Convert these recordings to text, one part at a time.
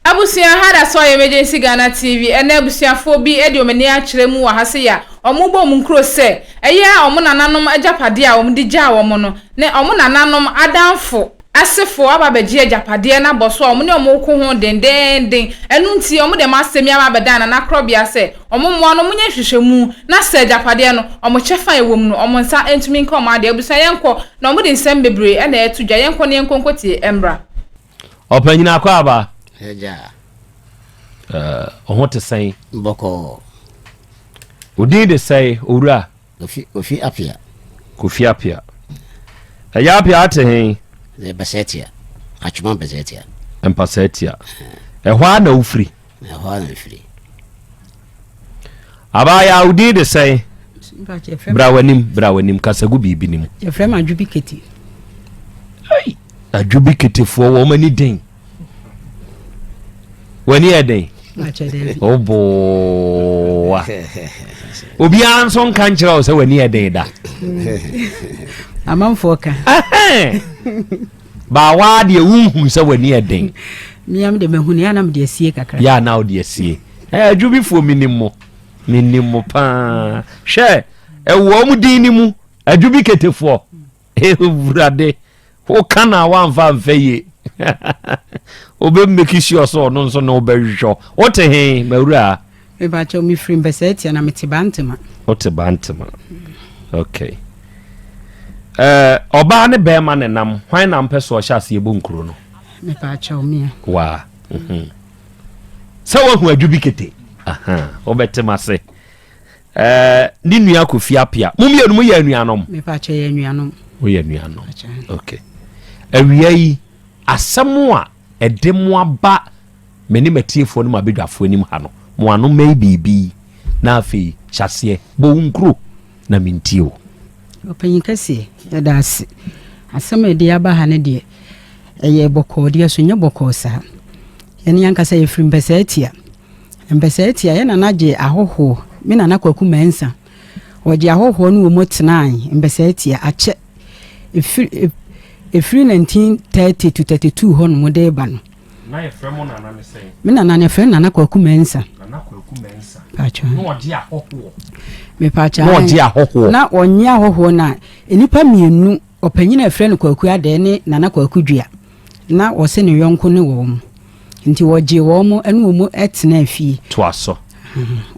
Abusua ha da sɔɔ Emergency Ghana TV ɛna abusuafoɔ bi de wɔn ani akyerɛ mu wɔ ha sei a wɔn bɔ wɔn nkuro sɛ ɛyɛ a wɔn nananom agyapadeɛ a wɔn de gyaa wɔn no ne wɔn nananom adamfo asefoɔ aba abɛgye agyapadeɛ no abɔ so a wɔn ne wɔn reko ho dendeenden ɛno nti wɔn de wɔn asɛm yi aba abɛda nana korɔbea sɛ wɔn mmoa no wɔn nyɛ nhwehwɛmu na sɛ agyapadeɛ no wɔn kyɛfa a ɛwɔ mu no wɔn nsa ntumi nka wɔn adeɛ abusua yɛnkɔ na wɔn de nsɛm bebree na ɛreto dwa yɛnkɔ na yɛnkɔ nkɔtie mmra. Ɔpanyin akwaaba. Agya. Ɛɛ, ɔho te sɛn? Bɔkɔɔ. Odin de sɛe, owura? Kofi, Kofi Apia. Kofi Apia. Ɛyɛ Apia ate hen? Ɛyɛ Basɛtia. Atwoma Basɛtia. Mpasɛtia. Ɛhɔ ara na wofiri? Ɛhɔ ara na mfiri. Abaayaa wo din de sɛn? Bra w'anim, bra w'anim, kasa gu biribi no mu. Yɛfrɛ me Adwobi Kete. Ei, Adwobi Ketefoɔ wɔn ani den. W'ani yɛ den? Wobooa. Obiara nso nka nkyerɛ wo sɛ w'ani yɛ den da. Amanfoɔ ka. Baa waa deɛ wonhunu sɛ w'ani yɛ den. Mea me deɛ mahu no yɛ a na mede asie kakra. Yɛ a na wode asie. Ɛɛ adwubifoɔ menim mo. Menim mo paa. Hwɛ ɛwɔ wɔn din no mu adwubi ketefoɔ. Ewurade woka na wamfa mfɛ yie. Wobɛ make sure sɛ ɔno nso na wobɛhwehwɛ. Wote he mawura? Mepakyɛw me firi Mpɛsɛɛtia na mete Bantama. Wote Bantama. Okay. Eh, ɔbaa ne bɛrima ne nam, hwan na mpɛ so ɔhyɛ ase yɛbɔ nkuro no? Mepakyɛw mea. Waa. Mhm. Sɛ woahu adwo bi kete. Aha, wobɛte m ase. Eh, ne nua Kofi Apia. Mo mmienu mo yɛ anuanom? Mepakyɛw yɛ anuanom. Woyɛ anuanom. Okay. Awia yi, asɛm a Ɛde mo aba me ne m'atiefoɔ ne m'abadwafoɔ anim ha no, mo ano mmɛn biribi, na afei hyɛ aseɛ bɔ wo nkuro na mentie wo. Ɔpanyin kɛseɛ, yɛda ase. Asɛm a ɛde aba ha no deɛ, ɛyɛ bɔkɔɔ deɛ so, nyɛ bɔkɔɔ saa. Yɛne ankasa yɛfiri Mpɛsɛatia. Mpɛsɛatia, yɛ nana gye ahɔhoɔ, me nana Kwaku Mensah. Wɔde ahɔhoɔ ne wɔn tenae mbɛsɛɛtia akyɛ ɛfiri ɛfiri 1930 to 32 hɔ nom de reba no. Na yɛfrɛ mo nana ne sɛn? Me nana no yɛfrɛ no Nana Kwaku Mensah. Nana Kwaku Mensah. Paatwɔ. Na ɔgye ahɔhoɔ. Me paatwɔ. Na ɔgye ahɔhoɔ. Na ɔnye ahɔhoɔ no a, nnipa mmienu, ɔpanyin a yɛfrɛ no Kwaku Adɛɛ ne Nana Kwaku Dua. na wɔse ne yɔnko ne wɔn, nti ɔgyee wɔn ne wɔn tenaa fie. Toa so.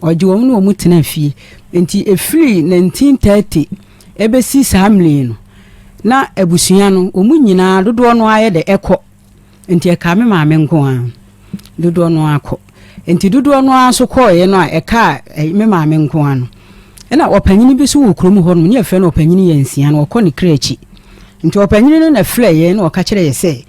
Ɔgye wɔn ne wɔn tenaa fie, nti ɛfiri 1930 ɛbɛsi saa mmerɛ yi no, na abusua no, wɔn nyinaa dodoɔ no ara yɛ dɛ ɛkɔ, nti ɛkaa me maame nko ara. dodoɔ no ara kɔ. Nti dodoɔ no ara nso kɔeɛ no a ɛkaa eh, me maame nko ara no. Ɛna ɔpanyini bi nso wɔ kurom hɔ nom, ne yɛfrɛ no ɔpanyini yɛ nsia no, ɔkɔ ne kra akyi. Nti ɔpanyini no na frɛ yɛn na ɔka kyerɛ yɛ sɛ,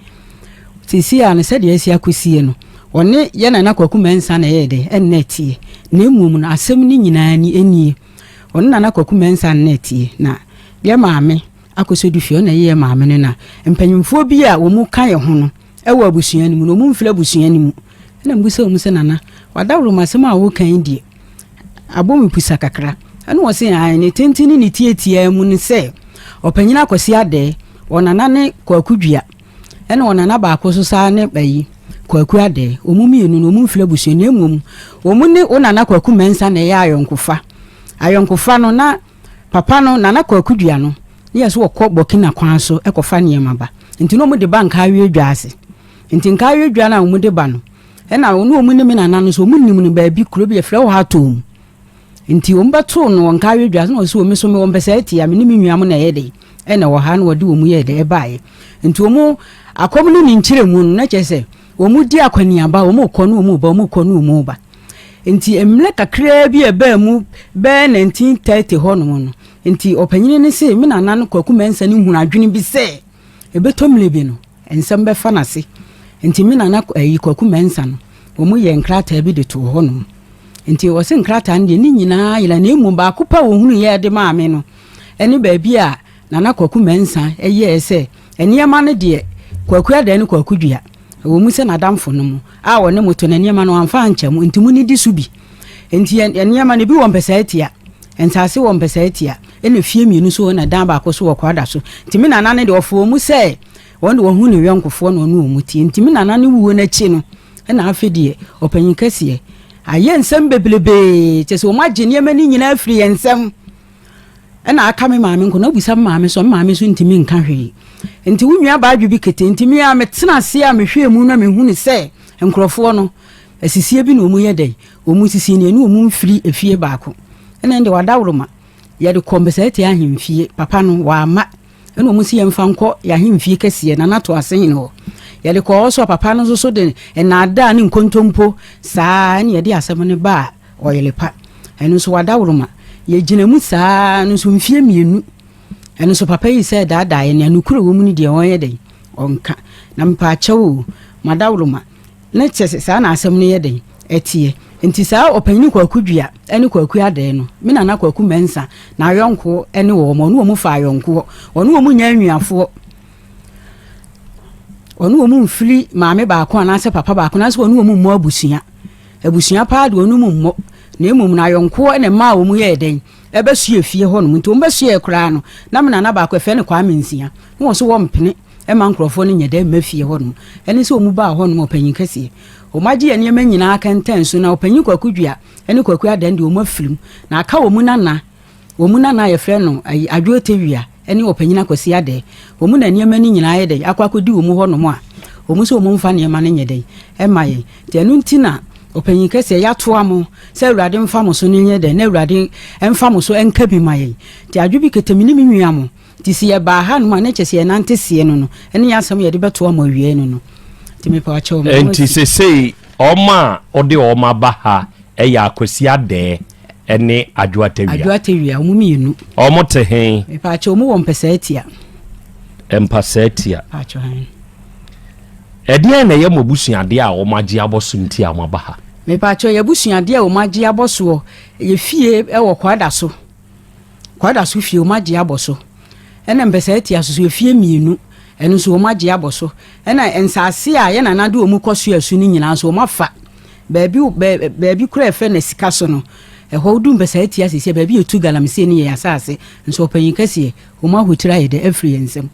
seesei a no sɛdeɛ asi akɔsie no, ɔne yɛ nana kwaku mɛnsa na ɛyɛ dɛ, ɛnna atie. Na mmom no asɛm no nyinaa ni, ɛnie. Ɔne nana kwaku mɛnsa nna atie, na yɛ maame akɔsɔ du fie, ɔna ɛyɛ yɛ maame no na. Mpanyimfoɔ bi a wɔn ka yɛ ho no, Wɔ abusua no mu no, wɔmfiri abusua no mu. Ɛna mebisa wɔn sɛ, Nana, w'adaworo mu asɛm a woreka yi deɛ, abɔ me pusa kakra. Ɛna wɔse, Aane, ne tenten ne ne tiatiaa mu ne sɛ, Ɔpanyin Akwasi Adɛɛ, Ɔnana ne Kwaku Dua, ɛna Ɔnana baako nso saa ne ayi, Kwaku Adɛɛ. Wɔn mmienu no, wɔmfiri abusua no mu, na mmom wɔne wo Nana Kwaku Mensah na ɛyɛ ayɔnkofa. Ayɔnkofa no, na Papa no, Nana Kwaku Dua no, ne yɛ sɛ wɔkɔ Burkina kwan so kɔfa nneɛma ba. Nti na wɔde ba Nkaawie dwa ase. Nti Nkaawie dwa no a wɔde ba no, ɛna ɔne wɔn ne me nana no nso wɔnim no baabi, kuro bi yɛfrɛ hɔ Atom. Nti wɔbɛtoo no wɔ Nkaawie dwa ase na wɔsi wɔ me so mewɔ Mpɛsɛɛte a me ne me nua mo na ɛyɛ dɛ ɛna ɛwɔ ha na wɔde wɔn yɛɛ dɛ ɛbaeɛ. Nti wɔn akɔm ne ne nkyerɛmu no na kyerɛ sɛ Wɔredi akɔneaba, wɔrekɔ na wɔreba, wɔrekɔ na wɔreba. Nti mmerɛ kakraa bi a ɛbaa mu bɛyɛ 1930 hɔnom no, nti ɔpanyin no see me nana no Kwaku Mensah no hunu adwene bi sɛ ɛbɛtɔ mmerɛ bi no, nsɛm bɛfa no ase. Nti me nana ayi Kwaku Mensah no, wɔyɛɛ nkrataa bi de too hɔnom. Nti ɔse nkrataa no deɛ ne nyinaa yera na mmom baako pɛ a ɔhunuiɛ de maa me no ne baabi a Nana Kwaku Mensah yɛɛ sɛ nneɛma no deɛ Kwaku Adan ne Kwaku Dua, ɛwɔ mu sɛ n'adamfonom a ɔne mo to no nneɛma no wamfa ankyɛ mo nti monidi so bi. Nti nneɛma no ebi wɔ mpɛsɛatia, nsase wɔ mpɛsɛatia ɛna fie mmienu so ɛna dan baako so wɔ Kwada so. Nti me Nana no deɛ ɔfa wɔ mu sɛ wɔn deɛ wɔhu ne yɔnkofoɔ na ɔne wɔn tie. Nti me Nana no wuo no akyi no ɛna afe deɛ ɔpanyin kɛseɛ ayɛ nsɛm bebrebee kyerɛ sɛ wɔn agye nneɛma no nyinaa afiri yɛn nsam. ɛna aka me maame nko na bisa me maame so me maame nso ntumi nka hwee nti wo nua baadwe bi kete nti me a metena ase a mehwɛ mu na mehu ne sɛ nkurɔfoɔ no asisie bi na wɔn yɛ dɛ wɔn sisi ne ɛne wɔn mfiri efie baako ɛna ɛnde wadaworo ma yɛde kɔ mbɛsɛ te ahemfie papa no wama ɛna wɔn si yɛn fa nkɔ yɛ ahemfie kɛseɛ na nato ase hene hɔ yɛde kɔ ɔsɔ papa no nso so de nnaadaa ne nkontompo saa ɛna yɛde asɛm no baa Ɔyere pa. Ɛno nso w'adaworoma. Yɛgyina mu saa ara no nso mfeɛ mmienu. Ɛno nso papa yi sɛ daadaa yɛ nea nokura wɔ mu no deɛ ɔnyɛ dɛn? Ɔnka. Na mpaakyɛw o, m'adaworoma. Ne kyɛ sɛ saa na asɛm no yɛ dɛn? Ɛteɛ. Nti saa Ɔpanyini Kwaku Dua ne Kwaku Adɛɛ no, me Nana Kwaku Mɛnsa na ayɔnkoɔ ne wɔn. Ɔne wɔn fa ayɔnkoɔ. Ɔne wɔn nyɛ anuafoɔ. Ɔne wɔn mfiri maame baako anaasɛ papa baako anaasɛ ɔne wɔn mmɔ abusua. Abusua paa de wɔn mu mmɔ, na mmom no ayɔnkoɔ na ɛmaa wɔn yɛɛ dɛn? Ɛbɛsoɛɛ fie hɔnom. Nti wɔn bɛsoɛɛ koraa no, na me nana baako, yɛfrɛ no Kwame Nsia, na wɔn nso wɔmpene mma nkorɔfoɔ no nyɛ dɛn mma fie hɔnom. Ɛno nso wɔn baa hɔnom, ɔpanyin kɛseɛ. Wɔn agye yɛn nneɛma nyinaa kɛntɛn so, na ɔpanyin Kwaku Dua ne Kwaku Adan deɛ wɔn afiri mu, na aka wɔn nana, Wɔn mu na na wɔfrɛ no ayi Adwoa Tewia ne Ɔpanyin Akwasi Adɛɛ. Wɔn mu na nneɛma no nyinaa ayɛ dɛn akɔ akɔdi wɔn mu hɔnom a wɔn sɛ wɔmfa nneɛma no nyɛ dɛn mma yɛn. Nti ɛno nti na Ɔpanyin Kɛseɛ yɛatoa mo sɛ Awurade mfa mo so no nyɛ dɛn na Awurade mfa mo so nka bi ma yɛn. Nti adwo bi kete me ne me nua mo. Nti sɛ yɛbaa ha nom a ne kyɛ sɛ yɛnante seɛ no no ɛne yɛ asɛm yɛde bɛto ama awiei no no nti mepɛ akyɛw me nti sesei ɔma a ɔde ɔma ba ha ɛyɛ akwasi adɛɛ ɛne adwo atawia adwo atawia ɔmo mmienu ɔmo te he mepɛ akyɛw ɔmo wɔ mpɛsɛ atia mpɛsɛ atia ɛdeɛ na ɛyɛ mo abusuadeɛ a ɔmo agye abɔ so nti a ɔmo aba ha mepɛ akyɛw yɛ abusuadeɛ a ɔmo agye abɔ soɔ yɛ fie ɛwɔ kwada so Kwada so fie, wɔagye abɔ so. Ɛna Mpɛsɛatia so so afie mmienu, ɛno nso wɔagye abɔ so. Ɛna nsase a yɛn nana de wɔn kɔ soa su no nyinaa nso wɔafa. Baabi baabi kora ɛfɛ na sika so no, ɛhɔ wodu Mpɛsɛatia sisi baabi yɛtu galamsey no yɛ yɛn asase, nso ɔpanyin kɛseɛ, wɔn ahotiri ayɛ dɛ afiri yɛn nsam.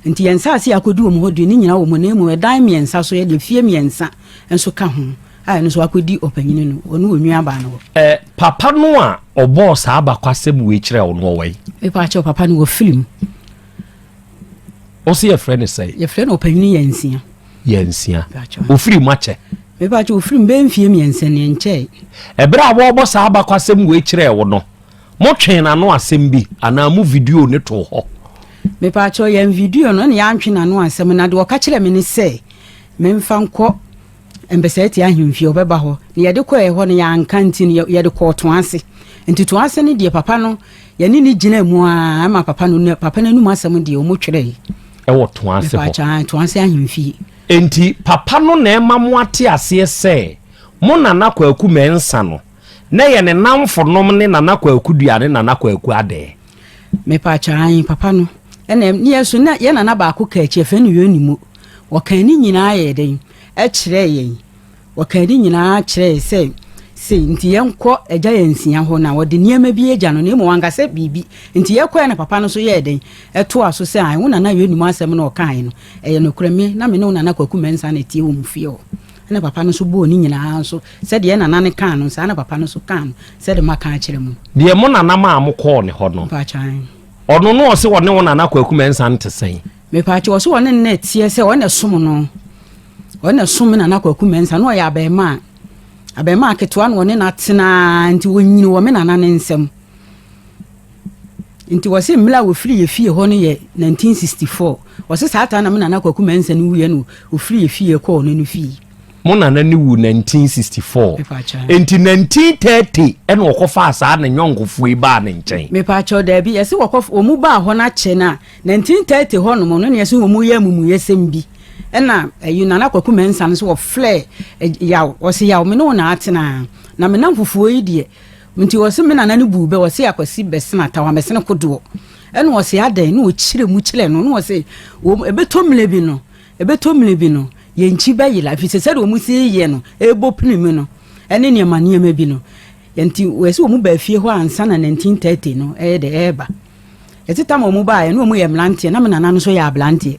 Enti yɛn nsase a akɔdi wɔn hɔ deɛ ne nyinaa wɔ mu, na mmom ɛdan mmiɛnsa so yɛ deɛ fie mmiɛnsa nso ka ho a ɛno nso akɔdi ɔpanyini no ɔne wɔn nuabaa no hɔ. Ɛ papa no a ɔbɔɔ saa abakwasɛm wei kyerɛɛ wo no ɔwɔ yi? Mepa kyɛw papa no wɔ film. Ɔsɛ yɛfrɛ no sɛe? Yɛfrɛ no ɔpanyini yɛ nsia. Yɛ nsia. Ofiri mu akyɛ? Mepa kyɛw ofiri mu bɛyɛ mfie mmiɛnsa ni ɛnkyɛe. Ɛberɛ a wɔrebɔ saa abakwasɛm wei kyerɛɛ wo no, Mo twe n'ano asɛm bi anaa mo video ne too hɔ. Mepaakyɛw yɛn video no ne yɛantwe n'ano asɛm na deɛ ɔka kyerɛ me ne sɛ memfa nkɔ Mbɛsɛɛte ahemfie ɔbɛba hɔ na yɛde kɔɛ hɔ no yɛanka nti no yɛde kɔɔ to ase nti to ase no deɛ papa no yɛne ne gyina mu a ɛma papa no papa no anum asɛm deɛ ɔmo twerɛ ɛwɔ to ase hɔ mepaakyɛw to ase ahemfie nti papa no na ɛma mo ate aseɛ sɛ mo nana kwaku mɛnsa no Nɛ yɛ ne namfo nom ne Nana Kwaku Dua ne Nana Kwaku Adɛɛ. Mepaakyɛw aane papa no na ɛm neɛ so na yɛ nana baako kaa akyi yɛfrɛ no Yonimo ɔkaa ne nyinaa yɛɛ dɛn kyerɛɛ yɛn ɔkaa ne nyinaa kyerɛɛ yɛn sɛ sei nti yɛnkɔ agya yɛn nsia hɔ na ɔde nneɛma bi agya no na mmom wanka sɛ biribi nti yɛkɔɛ na papa no so yɛɛ dɛn ɛtoa so sɛ ae wo nana Yonimo asɛm no ɔkaae no ɛyɛ nokorɛ me na me ne wo nana Kwaku Mɛnsa na ɛteɛ wɔ mu fie hɔ Ɛna papa no nso bɔɔ ne nyinaa nso sɛdeɛ yɛn nana no kaa no saa na papa no nso kaa no sɛdeɛ moaka akyerɛ mo no. Deɛ mo nana maa mo kɔɔ ne hɔ no. Mpaakyɛ ae. Ɔno no ɔse ɔne wo nana Kwaku Mensah no te sɛn? Mepaakyɛ ɔse ɔne no na ɛteɛ sɛ ɔne som no. Ɔne som me nana Kwaku Mensah na ɔyɛ abɛɛmaa. Abɛɛmaa ketewa na ɔne no atenaa nti ɔnyini wɔ me nana ne nsam. Nti wɔse mmere a wɔfiri yɛ fie hɔ no yɛ 1964. Wɔse saa taa na mo Nana Kwaku Mensah no wuiɛ na ɔfiri yɛ fie kɔɔ ɔno no fie. Mo Nana no wu 1964. Mepa akyɛ. Nti 1930 ɛna ɔkɔ faa saa ne nyɔnkofoɔ yi baa ne nkyɛn. Mepa akyɛ, daabi. Yɛse wɔkɔ, wɔn baa hɔ no akyɛ no a 1930 hɔ nom no na yɛse wɔn yɛ amumuyɛsɛm bi. Ɛna ɛyi Nana Kwaku Mensah no nso wɔfrɛɛ Yaw, ɔse Yaw me ne wo na atena. Na me namfofoɔ yi deɛ Nti ɔse me nana no buu bɛ, ɔse Akwasi bɛsene atawa, mɛsene kodoɔ. Ɛna ɔse adɛn? Ɛna ɔkyerɛ mu kyerɛ no, ɛna ɔse wɔn, ɛbɛtɔ mmerɛ bi no, ɛbɛtɔ mmerɛ bi no, yɛn nkyi bɛyera, ɛfiri sɛ sɛdeɛ wɔn si yɛ no, ɛrebɔ pini mu no, ɛne nneɛma nneɛma bi no. Nti wɔse wɔn baa fie hɔ ansa na 1930 no ɛyɛ dɛ, ɛreba. Ɛte tam a wɔn baeɛ, na wɔn yɛ mmeranteɛ, na me nana no nso yɛ aberanteɛ.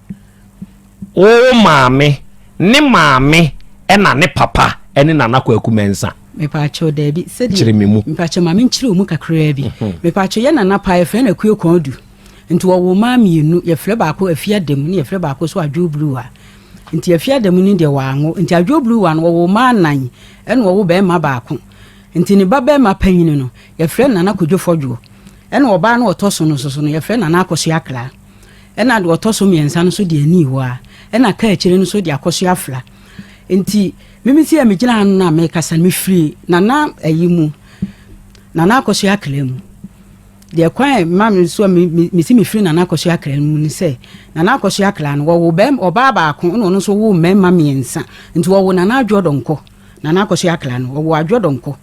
Wo maame ne maame na ne papa ne Nana Kwaku Mensah. Mepaakyɛw daabi sɛdeɛ. Kyerɛ me mu. Mepaakyɛw maame nkyerɛ wɔn mu kakraa bi. Mhm. Mepaakyɛw yɛ nana paa yɛfrɛ no Akue Kɔn Du. Nti wɔwɔ maa mmienu yɛfrɛ baako Afia Dɛm ne yɛfrɛ baako so Adwo Bluwa. Nti Afia Dɛm ne deɛ wɔanwo. Nti Adwo Bluwa no wɔwɔ maa nan ɛna wɔwɔ bɛrima baako. Nti ne ba bɛrima panyin no yɛfrɛ Nana Kodwo Fɔdwo. Ɛna ɔbaa no ɔtɔ so no nso so no yɛfrɛ Nana Akɔso Akra. Ɛna deɛ ɔtɔ so mmiɛnsa no nso de ani rewɔ ara, ɛna kaa akyire no nso de akɔ so afira. Enti meme sei a megyina ha no na merekasa no, mefiri Nana ayi mu, Nana Akosua Akra mu. Deɛ kwan a ɛma me nso a me, me, mesi mefiri Nana Akosua Akra no mu ne sɛ, Nana Akosua Akra no, wɔwo bɛm, ɔbaa baako, ɛna ɔno nso woo mmarima mmiɛnsa. Nti wɔwo Nana Adwoɔ Donkɔ, Nana Akosua Akra no, wɔwo Adwoɔ Donkɔ.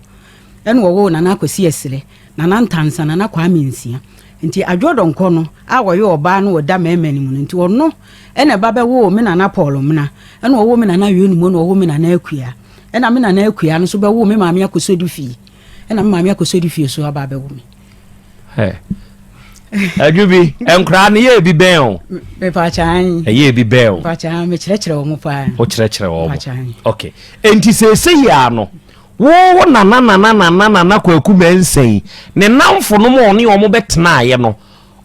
Ɛna ɔwoo Nana Akwasi Asire, Nana Ntansa, Nana Kwame Nsia. Nti Adwoɔ Donkor no a ɔyɛ ɔbaa no ɔda mɛɛma no mu no, nti ɔno ɛna ɛba bɛwoo me Nana Paul Mena, ɛna ɔwoo me Nana Ayɔnimo, ɛna ɔwoo me Nana Akua. Ɛna me Nana Akua no nso bɛwoo me Maame Akosodi Fie, ɛna me Maame Akosodi Fie nso aba abɛwo me. Adwo bi, nkoraa no yɛ ebi bɛn o? Mepaakyaan. Ɛyɛ ebi bɛn o? Mepaakyaan, mekyerɛkyerɛ wɔn paa. Wokyerɛkyerɛ wɔn? Mepaakyaan. Okay. Nti sɛ ɛsɛ yia no, Wo nanananananana Kwaku Mensɛn, ne nnamfonom a ɔne wɔn bɛtenaeɛ no,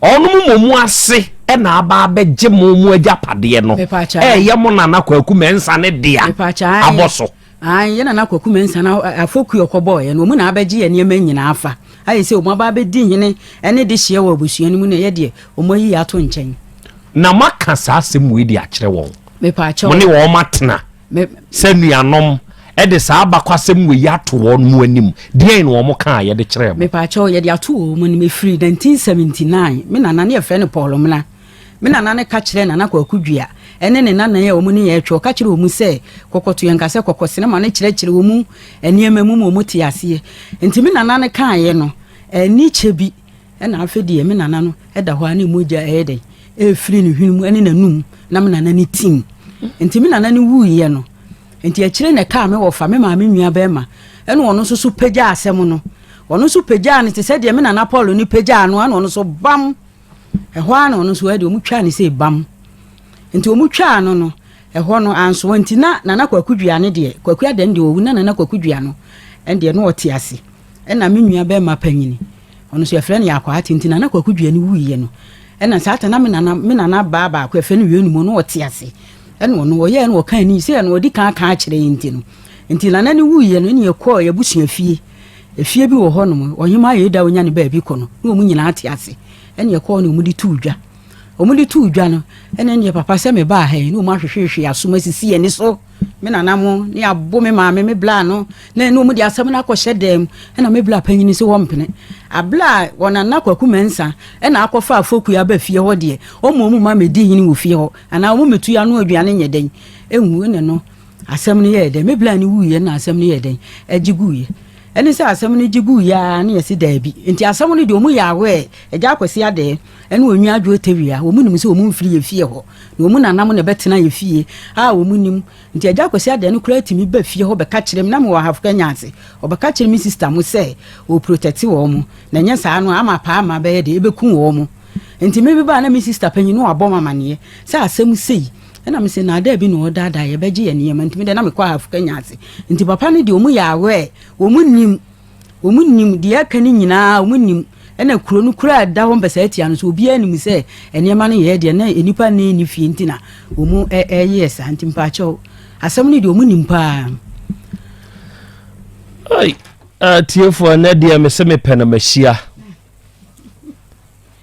wɔnom mmom ase na aba abɛgye mo mo agyapadeɛ no, ɛɛyɛ mo Nana Kwaku Mensane dea abɔ so. Ae, yɛ Nana Kwaku Mensane afokuo ɔkɔbɔɔeɛ no, wɔn na abɛgye yɛn nneɛma nyina afa. Ayɛ sɛ wɔn aba abɛdi hene ne dehyeɛ wɔ abusua no mu na yɛ deɛ, wɔn ayi yɛ ato nkyɛn. Na moaka saa asɛm wei de akyerɛ wɔn, mo ne wɔn atena. ne sɛ nuanom de saa abakwasɛm wei ato wɔn mu anim deɛn na wɔn kaa yɛde kyerɛɛ mo. mepaakyɛw yɛde ato wɔn mu anim efiri 1979 me nana ne yɛfrɛ no paul mena me nana ne ka kyerɛ nana kwaku dua ɛne ne nanan a wɔn ne yɛn retwɛ ɔka kyerɛ wɔn sɛ kɔkɔto yɛn nka sɛ kɔkɔ sinima no kyerɛkyerɛ wɔn nneɛma mu ma wɔn te aseɛ nti me nana ne kaeɛ no ɛni kyɛ bi Ɛna afe deɛ me nana no da hɔ a ne mogya ɛyɛ dɛn ɛrefiri ne hwene mu ne n'anum na me nana ne tim nti me nana no wuiɛ no nti akyire na ɛkaa me wɔfa me maame nua bɛrima ɛna ɔno nso so pagyaa asɛm no ɔno nso pagyaa no te sɛ deɛ me nana paul no pagyaa no ɛna ɔno nso bam ɛhɔ ara na ɔno nso ɛde ɔmo twaa ne sɛ bam nti ɔmo twaa no no ɛhɔ no ansoa nti na nana kwaku dua no deɛ kwaku adan deɛ ɔwu na nana kwaku dua no ɛndeɛ no ɔte ase Ɛna me nua bɛɛma panyin, ɔno nso yɛfrɛ no Yakwaa Tenten, Nana Kwaku Duani wuiɛ no, ɛna saa ta na me nana, me nana baa baako yɛfrɛ no Wienum, ɔno ɔte ase, ɛna ɔno ɔyɛɛ no ɔka ani, sɛ ɛna ɔdi kan aka akyerɛ yɛn nti no, nti nana ne wuiɛ no, ɛna yɛkɔɔ yɛbusua fie, efie bi wɔ hɔ nom, ɔhemaa yɛ da ɔnya ne baabi kɔ no, na wɔn nyinaa te ase, ɛna yɛkɔɔ no wɔn de tuu dwa, wɔn de tuu dwa no, ɛna ɛna yɛ papa sɛ me baa ha yi, na wɔn ahwehwehwe asom asisi yɛn ani so. me nana mo ne abo me maame me bla no na ɛne wɔn de asɛm no akɔhyɛ dɛm ɛna me bla panyin si wɔn mpene abla a wɔn nana kwaku mɛnsa ɛna akɔfa afoku aba fie hɔ deɛ wɔn wɔn ma medi hini wɔ fie hɔ anaa wɔn metu ano aduane nyɛ dɛn enwu ne no asɛm no yɛ dɛn me bla ne wuiɛ na asɛm no yɛ dɛn ɛgye guiɛ ɛne sɛ asɛm no gye guiɛ a ne yɛsi daabi nti asɛm no deɛ wɔn yɛ awɛ ɛgya akɔsi adɛɛ ne wɔn nua adwo tawia. Wɔn nim sɛ wɔn mfiri yɛ fie hɔ, na wɔn nanam na ɛbɛtena yɛ fie a wɔn nim. Nti Agya Kwasi Adan no koraa tumi ba fie hɔ bɛka kyerɛ me, na mewɔ Ahafo Kenya ase, ɔbɛka kyerɛ me sista mo sɛ ɔreprotɛte wɔn, na ɛnyɛ saa no a ama paa ma bɛyɛ dɛ, ɛbɛku wɔn. Nti me meba a na me sista panyin no abɔ me amaneɛ sɛ asɛm sei, ɛna me se naadaa bi na ɔredaadaa yɛ, bɛgye yɛ nneɛma, nti me deɛ na mekɔ Ahafo Kenya ase. Nti papa no deɛ wɔn yɛ aware, wɔn nim. Wɔn nim deɛ aka no nyinaa, wɔn nim ɛna kuro no kura da hɔ mpɛsɛ atia no so obiara nim sɛ nneɛma no yɛ deɛ na nnipa nne ne fie nti na wɔn ɛyɛ saa nti mpaakyɛw asɛm no deɛ wɔn nim paa. Ai, atiefoɔ ah, ɛnɛ deɛ mese mepɛ na mahyia.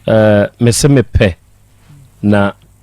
Uh, mese mepɛ na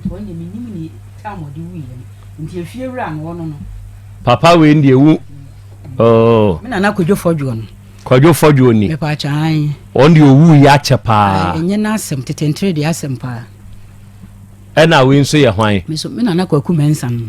Nti ɔno deɛ mennim ne time ɔde wuiɛ no nti efie wura no ɔno no. Papa wei no deɛ wu ooh. Me nana kwadwo fɔdwoɔ no. Kwadwo fɔdwoɔ ni. Mepɛ akyɛ ae. Ɔno deɛ owuiɛ akyɛ paa. Ae ɛnyɛ n'asɛm tete ntere deɛ asɛm paa. Ɛna wei nso yɛ hwan. Me nso me nana kwaku mɛnsa no.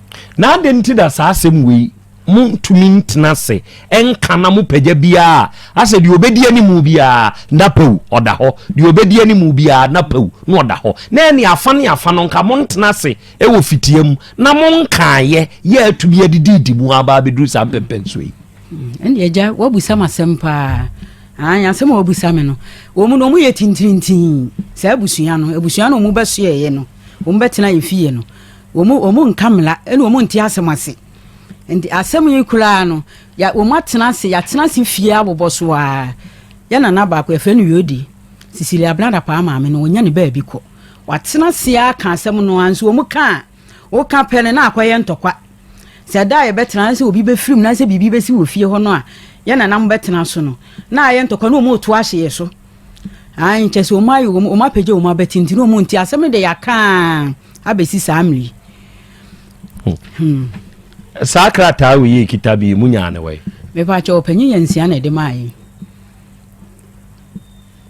Na adɛn nti na saa asɛm wei montumi ntena ase nka na mopagya biara asɛ deɛ ɔbɛdi anim biara na pɛw ɔda hɔ deɛ ɔbɛdi anim biara na pɛw na ɔda hɔ na ɛne afa ne afa no nka montena ase wɔ fitia mu na monkaeɛ yɛ atumi adididi mu aba abɛduru saa mpɛmpɛnsoɔ yi ɛnde agya woabusa m asɛm paa asɛm a wabusa me no wɔ mu no ɔmu yɛ tintirintin saa abusua no abusua no ɔmu bɛsoɛeɛ no ɔmu bɛtena yɛ fie no Wɔn wɔn nka mmara ɛna wɔn nte asɛm ase. Nti asɛm yi koraa no ya wɔn atena ase yɛatena ase fie abobɔ so a yɛ nana baako yɛfrɛ no Yodi Sisili Abena Dapaah maame no wɔnya ne baabi kɔ watena ase aka asɛm no a nso wɔn ka a woka pɛ no na akɔyɛ ntɔkwa sɛ ɛda a yɛbɛtena na sɛ obi bɛfirim na sɛ biribi bɛsi wɔ fie hɔ no a yɛ nana mo bɛtena so no na ayɛ ntɔkwa na wɔn reto ahye yɛ so. Ayi nkyɛ sɛ wɔn ayɛ wɔn apagya wɔn abɛti nti na wɔn nti asɛm no de yɛaka a. abɛsi saa mmere yi hmm. saa krataa wei yɛ kita bi mu nyaa ne wai mepaakyɛ ɔpanyin yɛ nsia na ɛde maa yi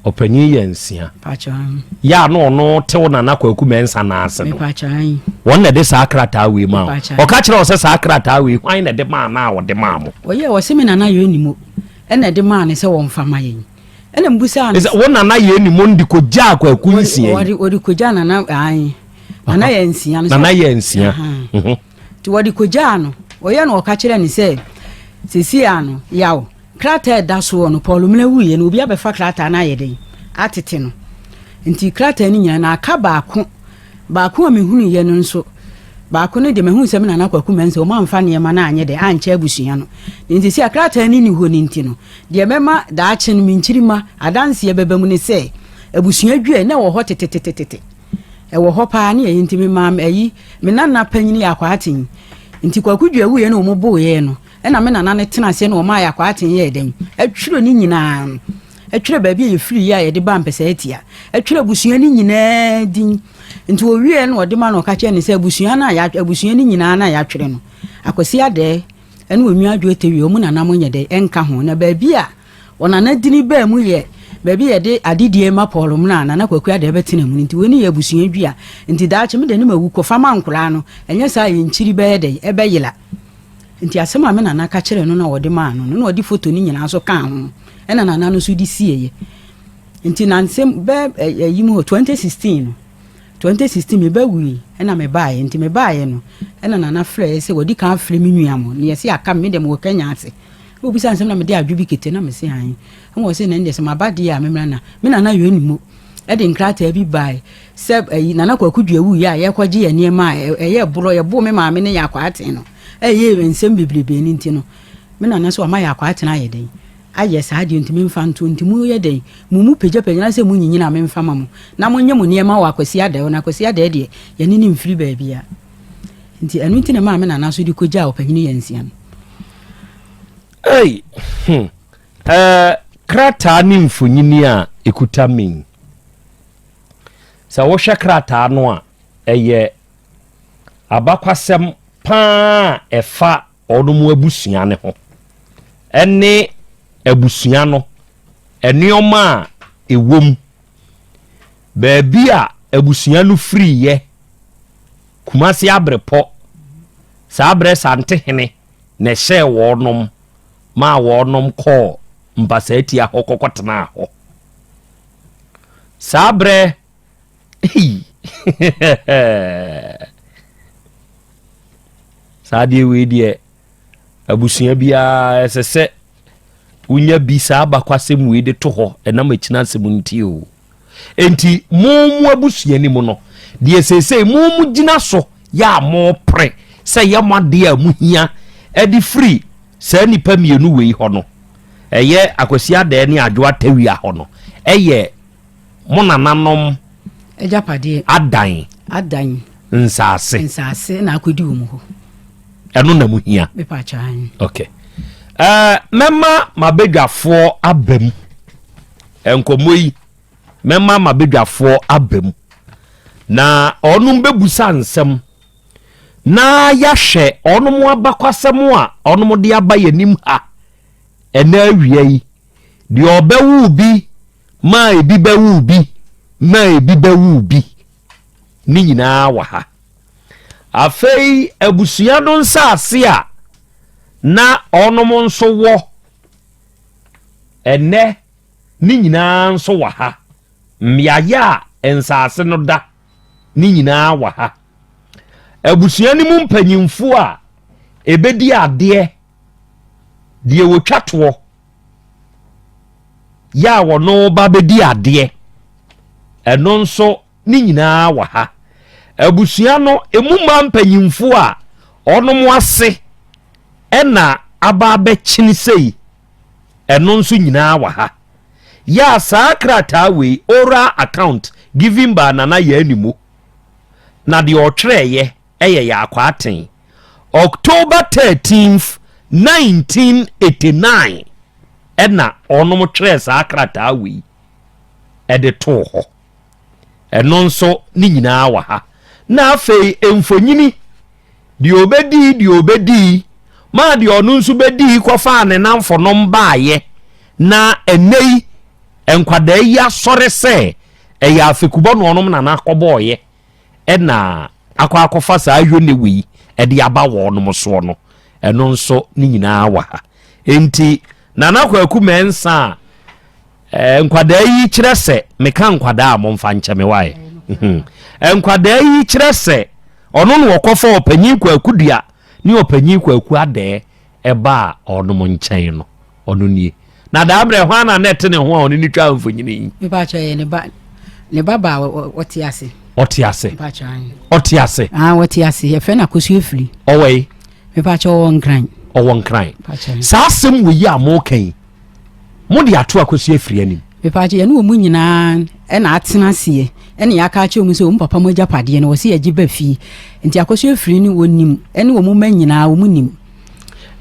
ɔpanyin yɛ nsia yɛ a na ɔno tew nana kwaku mɛnsa naase no wɔn na ɛde saa krataa wei maa ɔka kyerɛ ɔsɛ saa krataa wei hwan na ɛde maa na ɔde maa mo ɔyɛ ɔsɛ me nana yɛ ɔnimu ɛna ɛde maa ne sɛ wɔmfa ma yɛn ɛna mbusa no sɛ wo nana yɛ ni mo de ko gya kwaku nsia yi wɔde ko gya nana ayi nana yɛ nsia no nana yɛ nsia mhm. ti wɔde ko gya no ɔyɛ no ɔka kyerɛ ne sɛ sisi ya no yaw krataa ɛda soɔ no paul mena wuyɛ no obi abɛfa krataa no ayɛ den atete no nti krataa no nyinaa na aka baako Baako a mehunuiɛ no nso, baako no deɛ mahunu sɛ me Nana Kwaku Mensah, wɔn amfa nneɛma no anyɛ dɛ, ankyɛ abusua no. Na nti sɛ krataa no nni hɔ no nti no, deɛ mɛma daakye no me nkyirima adanseɛ bɛba mu ne sɛ, abusua dwa a na ɛwɔ hɔ tetetetete, ɛwɔ hɔ paa, ne ɛyɛ nti memaa ayi, me Nana panyin yɛ Akwaa Aten. Nti Kwaku Dua wuiɛ no wɔn boeɛ no, ɛna me Nana no tena aseɛ na wɔmaa yɛ Akwaa Aten yɛɛ dɛn? Atwire ne nyinaa. Ɛtwerɛ baabi a yɛfiriiɛ a yɛde baa mpɛsɛɛtia. Ɛtwerɛ abusua no nyinaa din. Nti ɔwieɛ na ɔde ma no ɔka kyerɛ no sɛ abusua no a yɛatwerɛ, abusua no nyinaa no a yɛatwerɛ no, Akwasi Adɛɛ ɛne Onua Adwo Etewie, wɔn nana mo nyɛ dɛ ɛnka ho. Na baabi a ɔnana dini baa mu yɛ baabi a yɛde adedie ma Paul Mena a Nana Kwaku Adɛɛ bɛtena mu no. Nti wei ne yɛ abusua dua. Nti daakye me de no mawu kɔ fa ma nkoraa no. Ɛnyɛ saa a yɛn kyiri bɛyɛ dɛn? Ɛbɛyera. Enti asɛm a me nana ka kyerɛɛ no na ɔde maa no no na ɔde foto no nyinaa nso kaa ho na nana no nso de sieeɛ. Enti na nsɛm bɛ ɛyi mu hɔ 2016 no 2016 me ba wui na me baeɛ nti me baeɛ no na nana frɛeɛ sɛ wɔde kan afrɛ me nua mo na yɛse aka me deɛ mewɔ Kenya ase na wɔbisa nsɛm na mede adwo bi kete na mese han na wɔse na ɛndeɛ sɛ maba deɛ a memmra na me nana yɛ ne mu ɛde nkrataa bi bae sɛ ɛyi nana kwaku dua wuiɛ a yɛkɔgye yɛ nneɛma a ɛyɛ borɔ yɛboo me maame ne yɛ akɔ aten no Ɛyɛ yɛ nsɛm bebrebe no nti no me nana sɛ ɔma yɛ akwaatena ayɛ dɛn ayɛ saa deɛ ntumi mfa ntoɔ nti mo yɛ dɛn mo mu pagya pagya na sɛ mo nyinyina me mfa ma mo na mo nyɛ mo nneɛma wɔ akwasi adɛ hɔ na akwasi adɛ deɛ yɛ ne ne mfiri baabia nti ɛno nti na maa me nana so de kɔ gyaa ɔpanyini yɛ nsia no. Ei, hmm, eh, krataa ne mfonyini a ɛkuta min. Sɛ wohwɛ krataa no a, ɛyɛ abakwasɛm pa ara a ɛfa wɔn abusua no ho ne abusua no nneɛma a ɛwom, baabi a abusua no firiiɛ, Kumasi Abrepɔ, saa berɛ Santehene na ɛhyɛɛ wɔnom maa wɔnom kɔɔ Mpasaa Atia hɔ kɔkɔtenaa hɔ. Saa berɛ Hey! saa adeɛ wei deɛ abusua biara ɛsɛ sɛ wonya bi saa abakwasɛm wei de to hɔ ɛnam akyina asɛm nti o enti mo mu abusua ni mu no deɛ seesei mo mu gyina so yɛ a mo pere sɛ yɛ mo adeɛ a mo hia ɛde firi saa nipa mmienu wei hɔ no ɛyɛ akwasi adɛɛ ne adwo atawia hɔ no ɛyɛ mo nananom agyapadeɛ adan adan nsaase nsaase na akɔdi wɔn hɔ ɛno na mu hia mepaakyɛn okay ɛɛ mɛma mabadwafoɔ aba mu nkɔmmɔ yi mɛma mabadwafoɔ aba mu na ɔnom bɛbusa nsɛm na yɛahwɛ ɔnom abakɔsɛm a ɔnom de aba yɛnim ha ɛna awia yi Deɛ ɔbɛwo bi ma ebi bɛwo bi ma ebi bɛwo bi ne nyinaa wɔ ha. Afei abusua no nsase a na ɔnom nso wɔ ɛnɛ ne nyinaa nso wɔ ha. Mmeaeɛ a nsase no da ne nyinaa wɔ ha. Abusua no mu mpanyimfoɔ a ɛbɛdi adeɛ. deɛ wɔtwa toɔ yɛ a wɔno ba bɛdi adeɛ ɛno nso ne nyinaa wɔ ha abusua no ɛmu mmaa mpanyimfoɔ a ɔnom ase ɛna aba abɛkyene sei ɛno nso nyinaa wɔ ha yɛ a saa krataa wei oral account given by nana yɛ animu na deɛ ɔtwerɛeɛ Ɛyɛ yɛ akwaa ten. October thirteenth, nineteen eighty nine, ɛna wɔnom twerɛɛ saa krataa wei ɛde too hɔ. Ɛno nso ne nyinaa wɔ ha. Na afei mfonyini deɛ ɔbɛdii deɛ ɔbɛdii maa deɛ ɔno nso bɛdii kɔfaa ne namfonom baayɛ na ɛnɛ yi nkwadaa yi asɔre sɛ ɛyɛ afekubɔ na ɔnom nana akɔbɔɔyɛ na akɔ akɔfa saa yone wei de aba wɔnom soɔ no, ɛno nso ne nyinaa wɔ ha. Enti Nana Kwaku Mensah a eh, nkwadaa yi kyerɛ sɛ, meka nkwadaa a momfa nkyɛ me wae, eh, nkwadaa yi kyerɛ sɛ ɔno na ɔkɔfa ɔpanyin Kwaku Dua ne ɔpanyin Kwaku Adɛɛ ɛbaa ɔnom nkyɛn no. Ɔno nie. Na daa berɛ hwan na na ɛte ne ho a ɔne no twaa mfonyini yi? Mepakyɛ yɛ ne ba ne ba ba ɔte ase. Ɔte ase. Ɔte ase. Ah ɔte ase yɛfrɛ no akosu efiri. Ɔwɔ yi. Mepakyɛ ɔwɔ nkran. Ɔwɔ nkran. Saa asɛm wɔ yi a mo ka yi mo de ato akosu efiri anim. Mepakyɛ yɛne wɔn nyinaa ɛna atena aseɛ ɛna yɛaka akyerɛ wɔn sɛ wɔn papa mo agyapadeɛ no wɔsi yɛgye ba fie nti akosu efiri ne wɔn nim ɛne wɔn mma nyinaa wɔn nim.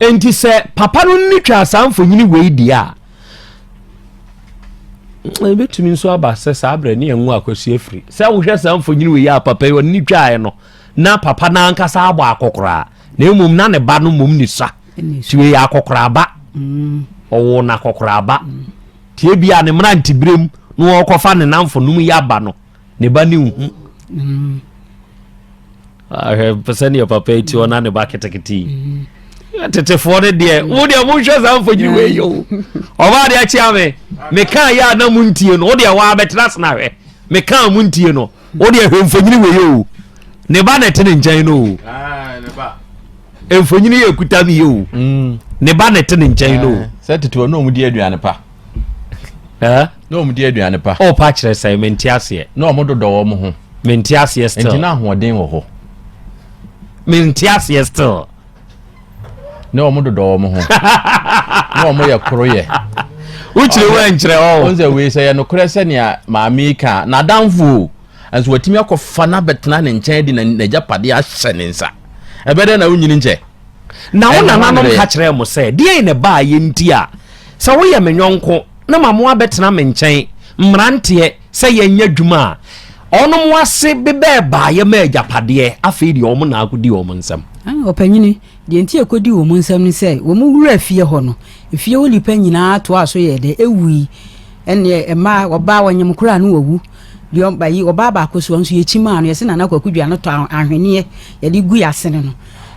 Enti sɛ papa no nni twaa saa mfonyini wei di a, ebetumi nso aba sɛ saa berɛ ne ɛnwo akwasi afiri. Sɛ wohwɛ saa mfonyini wei a papa yi ɔne twaaɛ no, na papa no ankasa abɔ akɔkoraa, na mmom na ne ba no mmom ne sa. Nti wei yɛ akɔkoraaba. Mm. Ɔwɔ no akɔkoraaba. Nti ebi a ne mmeranteberem na wɔrekɔfa ne namfonom yi aba no, ne ba ne nhu. Mm. ahwɛ sɛdeɛ papa yi ti ɔna ne ba ketekete yi mm-hmm. tetefoɔ no deɛ wo deɛ monhwɛ saa mfonyini wei yɛ o ɔbaa deɛ akyea me mekaa yɛ a na mo ntie no wo deɛ waa bɛtena ase na hwɛ mekaa mo ntie no wo deɛ hwɛ mfonyini wei yɛ o ne ba na ɛte ne nkyɛn no o ah, mfonyini yɛ kuta mi yɛ o mm. ne ba na ɛte ne nkyɛn no o eh, sɛ tetefoɔ no ɔmo di aduane pa Eh? Na wɔn di aduane pa. O pa kyerɛ sɛ me nti aseɛ. Na wɔn dodɔ wɔn ho. Me nti aseɛ still. Nti na ahoɔden wɔ hɔ. Me nti aseɛ still. Na wɔn dodɔ wɔn ho. Na wɔn yɛ koro yɛ. Wokyerɛ wo nkyerɛ wɔn. Wɔn sɛ wei sɛ yɛ nokorɛ sɛ nea maame ka na adanfo nso watumi akɔfa no abɛtena ne nkyɛn de n'agyapadeɛ ahyɛ ne nsa ɛbɛdɛ na wonyini nkyɛ. Na wo nananom ka kyerɛɛ mo sɛ, 'Deɛn na ɛbaeɛ nti a sɛ woyɛ me yɔnko na ma mo abɛtena me nkyɛn mmeranteɛ sɛ yɛnyɛ adwuma a? Wɔnom ase bebɛɛ baeɛ maa agyapadeɛ, afei deɛ wɔn na akɔdi wɔn nsam. Ɔpanyini, deɛ nti a ɛkɔdii wɔn nsam ne sɛ, wɔn wuraa fie hɔ no, efie hɔ nnipa nyinaa toaa so yɛɛ dɛ, ɛwui. Ɛnneɛ mmaa, ɔbaa, wɔnyem koraa no wɔwu. Deɛ, ayi, ɔbaa baako soɔ nso, yɛkyimaa no, yɛse Nana Kwaku Dua no tɔ ahweneɛ yɛde gui asene no.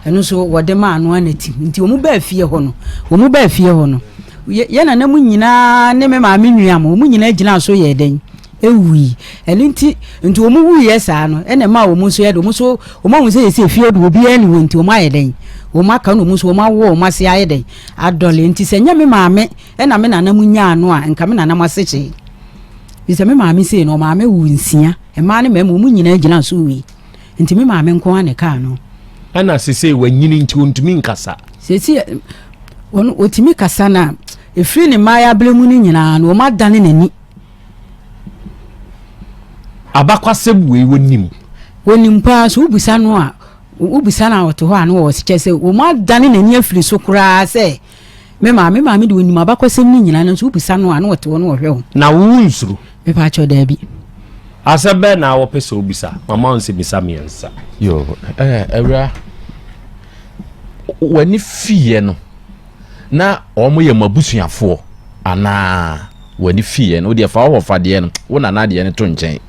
Ɛno nso wɔde maa no ara na ti. Nti wɔn baa fie hɔ no, wɔn baa fie hɔ no, yɛn nana mu nyinaa ne me maame nua mo, wɔn nyinaa gyinaa so yɛɛ dɛn? Ewui. Ɛno nti, nti wɔn wuiɛ saa no, ɛna ɛmaa wɔn nso yɛ de, wɔn nso, wɔn ahu sɛ yɛsɛ fie de obiara ne wɔn nti, wɔn ayɛ dɛn? Wɔn aka no wɔn nso, wɔn awo wɔn ase ayɛ dɛn? Adɔle. Nti sɛ nyɛ me maame ɛna me nana mu nyaa no a, nka me nana mo asekyee. Bisɛ me maame sei no, ɔmaame wo nsia, mmaa ne mmarima, wɔn nyinaa gyinaa so wui. nti me maame nko ara na ɛkaa no. ɛna sese wanyini nti ontumi nkasa. sese ɔno otumi kasa na efiri ne mmaayɛ abere mu no nyinaa na wɔn adane n'ani. abakwasɛm wei wɔnim. wɔnim paa so wobisa no a wobisa no a ɔte hɔ a no wɔ kyɛ sɛ wɔn adane n'ani afiri so koraa sɛ. Me maame, me maame de onim abakɔsɛm no nyinaa nanso wobisa no a na ɔte hɔ na ɔhwɛ wo. Na wonsuro? Mepa kyɛw daabi. Asɛm bɛn na wɔpɛ sɛ wobisa? Mama wo nsɛmmisa mmiɛnsa. Yo, eh, awura, w'ani fiiɛ no na wɔn yɛ mo abusuafoɔ anaa w'ani fiiɛ no wodeɛ fa wɔfa deɛ no wo nana deɛ no to nkyɛn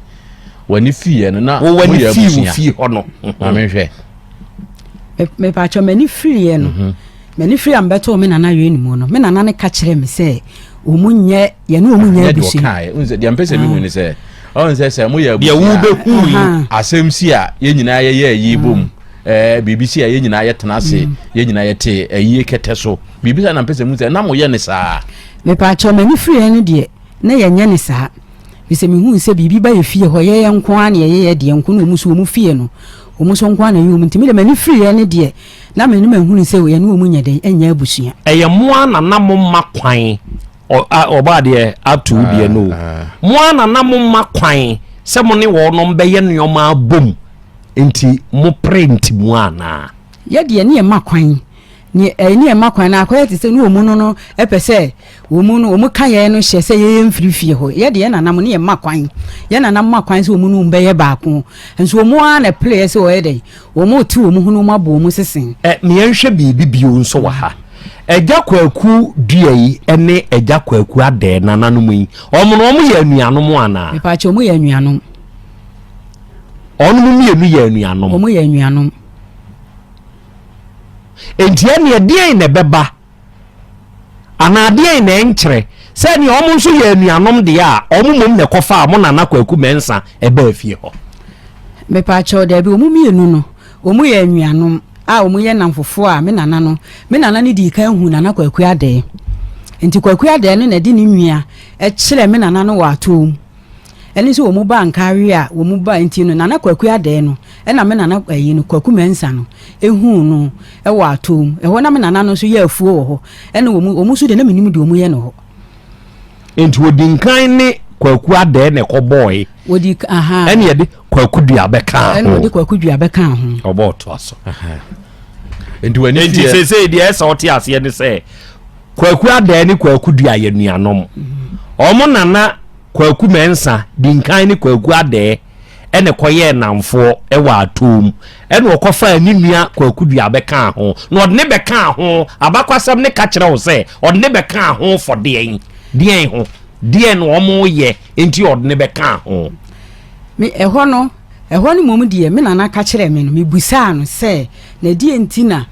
w'ani fiiɛ no na mo yɛ abusua. W'ani fii hɔ no. Maame hwɛ. Mepa kyɛw m'ani firiiɛ no. Mhm. M'ani firi a mebɛtoo me nana Wayne mu no, me nana no ka kyerɛɛ me sɛ wɔn nyɛ yɛne wɔn nyɛ abusua. Deɛ mpɛ sɛ mehu ne sɛ ɔn sɛ sɛ moyɛ abusua deɛ wobɛhu yi asɛm si a yɛn nyinaa yɛyɛ ayi bom mm. eh, biribi si a yɛn nyinaa yɛtena ase mm. yɛn nyinaa yɛte ayie kɛtɛ so biribi sɛ na mpɛ sɛ mu sɛ na moyɛ ne saa mepaakyɛw m'ani firiɛ no deɛ na yɛnyɛ ne saa bisɛ mehu sɛ biribi ba yɛ fie hɔ yɛyɛ nko a na yɛyɛ yɛ deɛ nko na ɔmu so ɔmu fie no ɔmu so nko a na yɛ ɔmu nti me deɛ m'ani firiɛ no deɛ Na me ne mahunu sɛ yɛne wɔn nyɛ dɛn ɛnyɛ abusua. Ɛyɛ mo ara na na mo mma kwan ɔ a ɔbɔ adeɛ ato wo deɛ no o mo ara na na mo mma kwan sɛ mo ne wɔnom bɛyɛ nneɛma abom nti mo pere ntimu anaa. Yɛ deɛ ne yɛ mma kwan ne yɛ mma kwan na akɔyɛ te sɛ ne wɔn no no pɛ sɛ. Wɔn mu no, wɔn kaeɛ no hyɛ sɛ yɛyɛ mfiri fie hɔ. Yɛ de yɛn nananom ne yɛn mma kwan. Yɛn nananom ma kwan sɛ wɔn ne wɔn bɛyɛ baako. Nso wɔn ara na ɛpereɛ sɛ wɔyɛ dɛn? Wɔte wɔn ho na wɔn abɔ wɔn sese. Ɛ, ma yɛnhwɛ biribi bio nso wɔ ha. Agya Kwaku Dua yi ne Agya Kwaku Adɛɛ nananom yi, wɔn no wɔyɛ anuanom anaa? Mepaakyɛ, wɔn yɛ anuanom. Wɔn mmienu yɛ anuanom. Wɔn yɛ anuanom. Enti ɛne ɛdeɛn na ɛbɛba Anaa deɛn na ɛnkyerɛ sɛ ɛneɛ wɔn nso yɛ anuanom deɛ a wɔn mmom na ɛkɔfaa wɔn nana Kwaku Mɛnsa ɛbaa fie hɔ? Mepaakyɛw, daabi, wɔn mmienu no, wɔn yɛ anuanom a wɔn yɛ nnamfofoɔ a me nana no, me nana no dii kan huu Nana Kwaku Adɛɛ. Nti Kwaku Adɛɛ no na ɛde ne nua kyerɛɛ me nana no wɔ atoo mu. ɛne sɛ wɔn baa Nkareɛ a wɔn baa nti no Nana Kwaku Adɛɛ no ɛna me Nana ɛyi no Kwaku Mɛnsa no ɛhuu no ɛwɔ atoo mu ɛhɔ na me Nana no nso yɛ afuo wɔ hɔ ɛne wɔn wɔn nso deɛ na menim deɛ wɔn yɛ no hɔ. Nti wɔdi nkan ne Kwaku Adɛɛ na ɛkɔ bɔɔe wɔdi aha ɛne yɛde Kwaku Dua bɛka ho ɛne wɔde Kwaku Dua bɛka ho ɔbɔ ɔtoa so nti wɔn ani sɛ sɛ deɛ ɛsɛ ɔte aseɛ ne sɛ Kwaku Adan ne Kwaku Dua yɛ nuanom. Wɔn nana Kwaku Mɛnsa di nkan ne Kwaku Adan ɛna kɔyɛɛ nnamfoɔ wɔ Atom. Ɛna ɔkɔfaa ne nua Kwaku Dua bɛkaa ho. Na ɔde ne bɛkaa ho, abakwasɛm no ka kyerɛ wo sɛ ɔde ne bɛkaa ho fɔ deɛn? Deɛn ho? Deɛn na wɔyɛ nti ɔde ne bɛkaa ho? Me ɛhɔ no, ɛhɔ no mmom deɛ me nana ka kyerɛɛ me no, mebusaa no sɛ, na deɛ nti na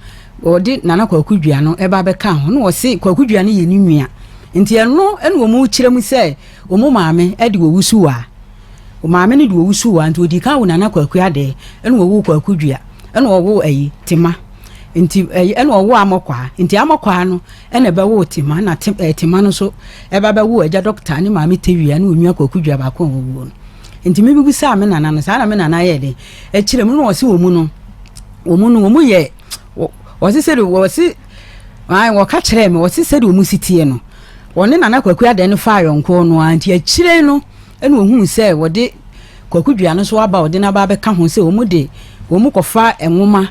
Wɔde Nana Kwaku Dua no ba bɛkaa ho na wɔse Kwaku Dua no yɛ ne nua. Nti ɛno na wɔn rekyerɛ mu sɛ wɔn maame de wɔwu Suwaa. Wɔn maame no de wɔwu Suwaa nti wɔdii kan woo Nana Kwaku Adɛɛ ɛna wɔwoo Kwaku Dua ɛna wɔwoo ayi Tema nti ɛyi ɛna wɔwoo Amɔkwaa nti Amɔkwaa no ɛna ɛbɛwoo Tema na te ɛɛ Tema no nso ɛba bɛwoo agya Dɔkta ne maame Tewia ne wɔn nua Kwaku Dua baako a wɔwuo no. Nti me bibisaa me Nana no saa na me Nana yɛɛ dɛn Akyire mu no wɔsi wɔn mu no wɔn mu no wɔn mu yɛ wɔsi sɛ wɔsi wɔn wɔka kyerɛ mi wɔsi sɛ de wɔn si tie no wɔne nana kwaku adan no fa ayɔnko no a nti akyire no ɛna ohun sɛ wɔde kwaku dua no so aba wɔde n'aba abɛka ho sɛ wɔn de wɔn kɔfa nwoma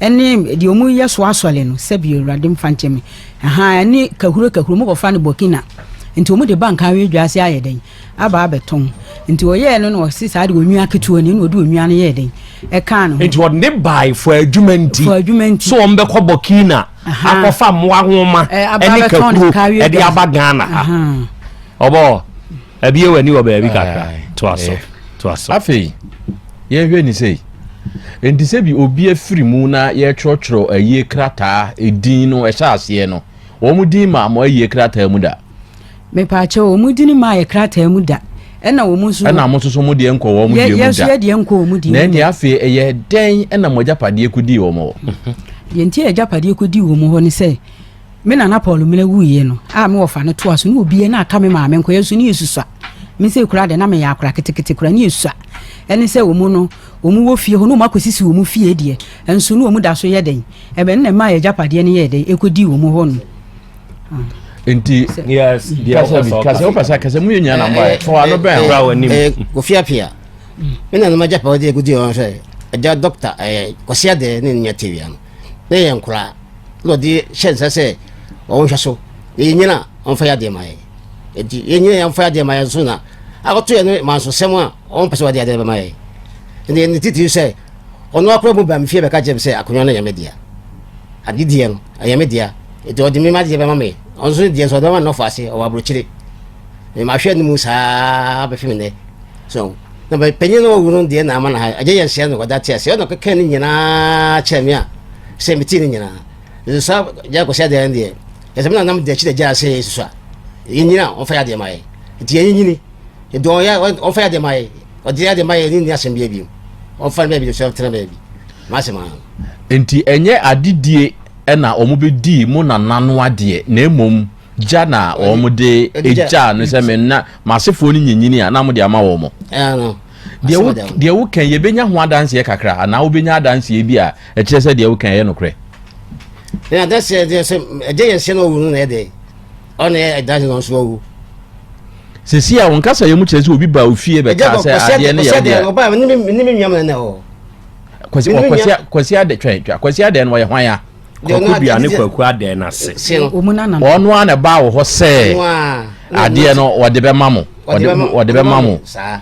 ɛne deɛ wɔn yɛ so asɔre no sɛbi awurade mfa nkyɛn mi ɛhan ɛne kahuro kahuro wɔn kɔfa no burkina nti wɔn de ba nkawe dwa ase ayɛ dɛn. aba abɛtɔn nti ɔyɛɛ no na ɔsi saa de onua ketewa ni na ɔde onua no yɛɛ den ɛkaa ne ho. nti ɔde ne bae fɔ adwuma nti fɔ adwuma nti so wɔn bɛkɔ burkina akɔfa mmoa nwoma ɛne kakuro ɛde aba ghana ha ɔbɔ ɛbi ewa ni wɔ baabi kakra to aso to aso. afei yɛn hwɛ ni sɛ nti sɛ bi obi afiri mu na yɛtwerɛtwerɛ ayie krataa edin no ɛhyɛ aseɛ no wɔn din maa mo ayie krataa mu da. Mepaakyɛw, wɔn din mmaa yɛ krataa mu da, ɛna wɔn nso. Ɛna mo nso mo deɛ nkɔ wɔn deɛ mu da. Yɛn nso yɛ deɛ nkɔ wɔn deɛ mu da. Na ɛnni afei ɛyɛ dɛn ɛna mo agyapadeɛ kɔ dii wɔn hɔ? Deɛ nti a agyapadeɛ kɔ dii wɔn hɔ ne sɛ, me nana Paul Mena wuiɛ no, a me wɔfa no toa so ne obiara na aka me maame nkɔ yɛn nso ne yɛsusua. Me sɛ kura deɛ na meyɛ akora ketekete kura ne yɛsusua. Ɛne sɛ wɔn no, wɔn wɔ fie hɔ ne wɔn akɔsisi wɔn fie deɛ, nso ne wɔn da so yɛ dɛn? Ɛbɛn na ɛma agyapadeɛ no yɛɛ dɛn ɛkɔ dii wɔn hɔ no. nti kasɛ wopɛ sɛ kasɛ mu yɛ nyina nambaɛ fo ano bɛn kora w'anim kofiapia me na noma gyapa wode agudi ɔn sɛ agya dɔkta kwase adɛ ne nua tewia no na yɛ nkora na ɔde hyɛ nsa sɛ ɔwonhwɛ so na yɛnyina ɔmfa yɛ adeɛ ma yɛ nti yɛnyina yɛmfa yɛ adeɛ ma yɛ nso na akɔto yɛ no mansosɛm a ɔmpɛ sɛ wɔde adeɛ bɛma yɛ ɛne titiri sɛ Ɔno ara koraa mu baa me fie bɛka kyerɛɛ me sɛ akonnwa no yɛ me dea. Ade deɛ no, ɛyɛ me dea. Enti ɔde me m'adeɛ bɛma me. Ɔno nso ne deɛ nso ɔde bɛma ne nɔfo ase, ɔwɔ aburokyire. Me mahwɛ no mu saa bɛfe me nnɛ. So, na me panyin na wawu no deɛ na ama no ha. Agya yɛ nhyɛ no ɔda te ase. Ɔna kɛkɛ ne nyinaa kyerɛ me a sɛ metee ne nyinaa. Nso saa gya kɔsi adeɛ no deɛ, ɛsɛ me na nam de akyi da gya ase susu a. Yɛnyina a, ɔmfa yɛ adeɛ ma yɛ. Nti yɛnyinyini. Nti ɔyɛ ɔfa yɛ de ma yɛ ɔde yɛ de ma yɛ ne nni asɛm bi abiem ɔfa no baabi de so ɛtena baabi masɛm ano. Nti ɛnyɛ adedie ɛna wɔn bɛ dii mo nana no adeɛ na mmom gya na wɔn de egyaa no sɛ me nna masefoɔ no nyinyini a na mo de ama wɔn. Ɛɛ no. Deɛ wo kɛn yɛbɛnya ho adanseɛ kakra anaa wobɛnya adanseɛ bi a ɛkyerɛ sɛ deɛ wo kɛn ɛyɛ nokorɛ. Ɛna adanseɛ deɛ sɛ ɛgye yɛn sɛ na ɔwɔ no na ɛdɛ. ɔne ɛda ne nso awu sisi a wɔn kasa yɛ mu kyerɛ sɛ obi ba ofie bɛ kaa sɛ adeɛ ne yɛ ɔdeɛ ɛdɛ ɔba ne mi ne mi nua mu nana hɔ kwasi kwasi kwasi adɛ twɛn twɛn kwasi adɛ no wɔyɛ hwan ya kɔkɔ dua ne kwaku adɛ na se wɔn a na ba wɔ hɔ sɛ adeɛ no wɔde bɛ ma mo wɔde bɛ ma mo saa.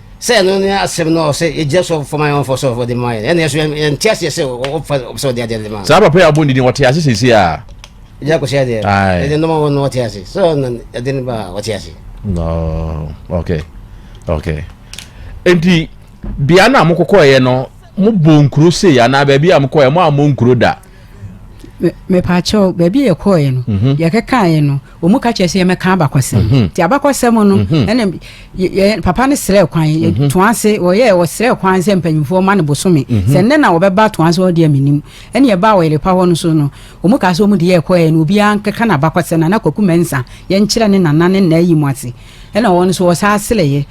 sɛ ɛno ne asɛm no sɛ yɛgyina so fam ayɛ wɔmfa sɛ wɔde ma yɛn ɛne ɛso yɛnte aseɛ sɛ wɔfa sɛ wɔde adeɛ de ma saa papa yɛ abɔ ne din wɔte ase sɛsi a ɛgya kɔsi adeɛ ɛde nɔma wɔ no wɔte ase sɛ ɔna ɛde no ba wɔte ase no okay okay enti bea no a mokɔkɔɛɛ no mobɔ nkuro sei anaa baabi a mokɔɛ mo a mo nkuro da mepaakyɛw baabi a yɛkɔɛ no mhm. yɛkɛkaeɛ no Wɔn ka kyerɛ sɛ yɛmɛka abakɔsɛm. Mhm. Nti abakɔsɛm no mhm. ɛna yɛ papa no srɛ kwan mhm. to ase wɔyɛ wɔsrɛ kwan sɛ mpanyinfoɔ ma no bosome sɛ nnɛ na wɔbɛba to ase wɔde aminim ɛna yɛba ɔyɛlepa hɔ no so no wɔn ka sɛ wɔn de yɛ kɔɛ no obiara nkeka na abakɔsɛm na na kwaku mɛnsa yɛnkyerɛ ne nana ne nna yi mu ase ɛna wɔn nso wɔsaa srɛyɛ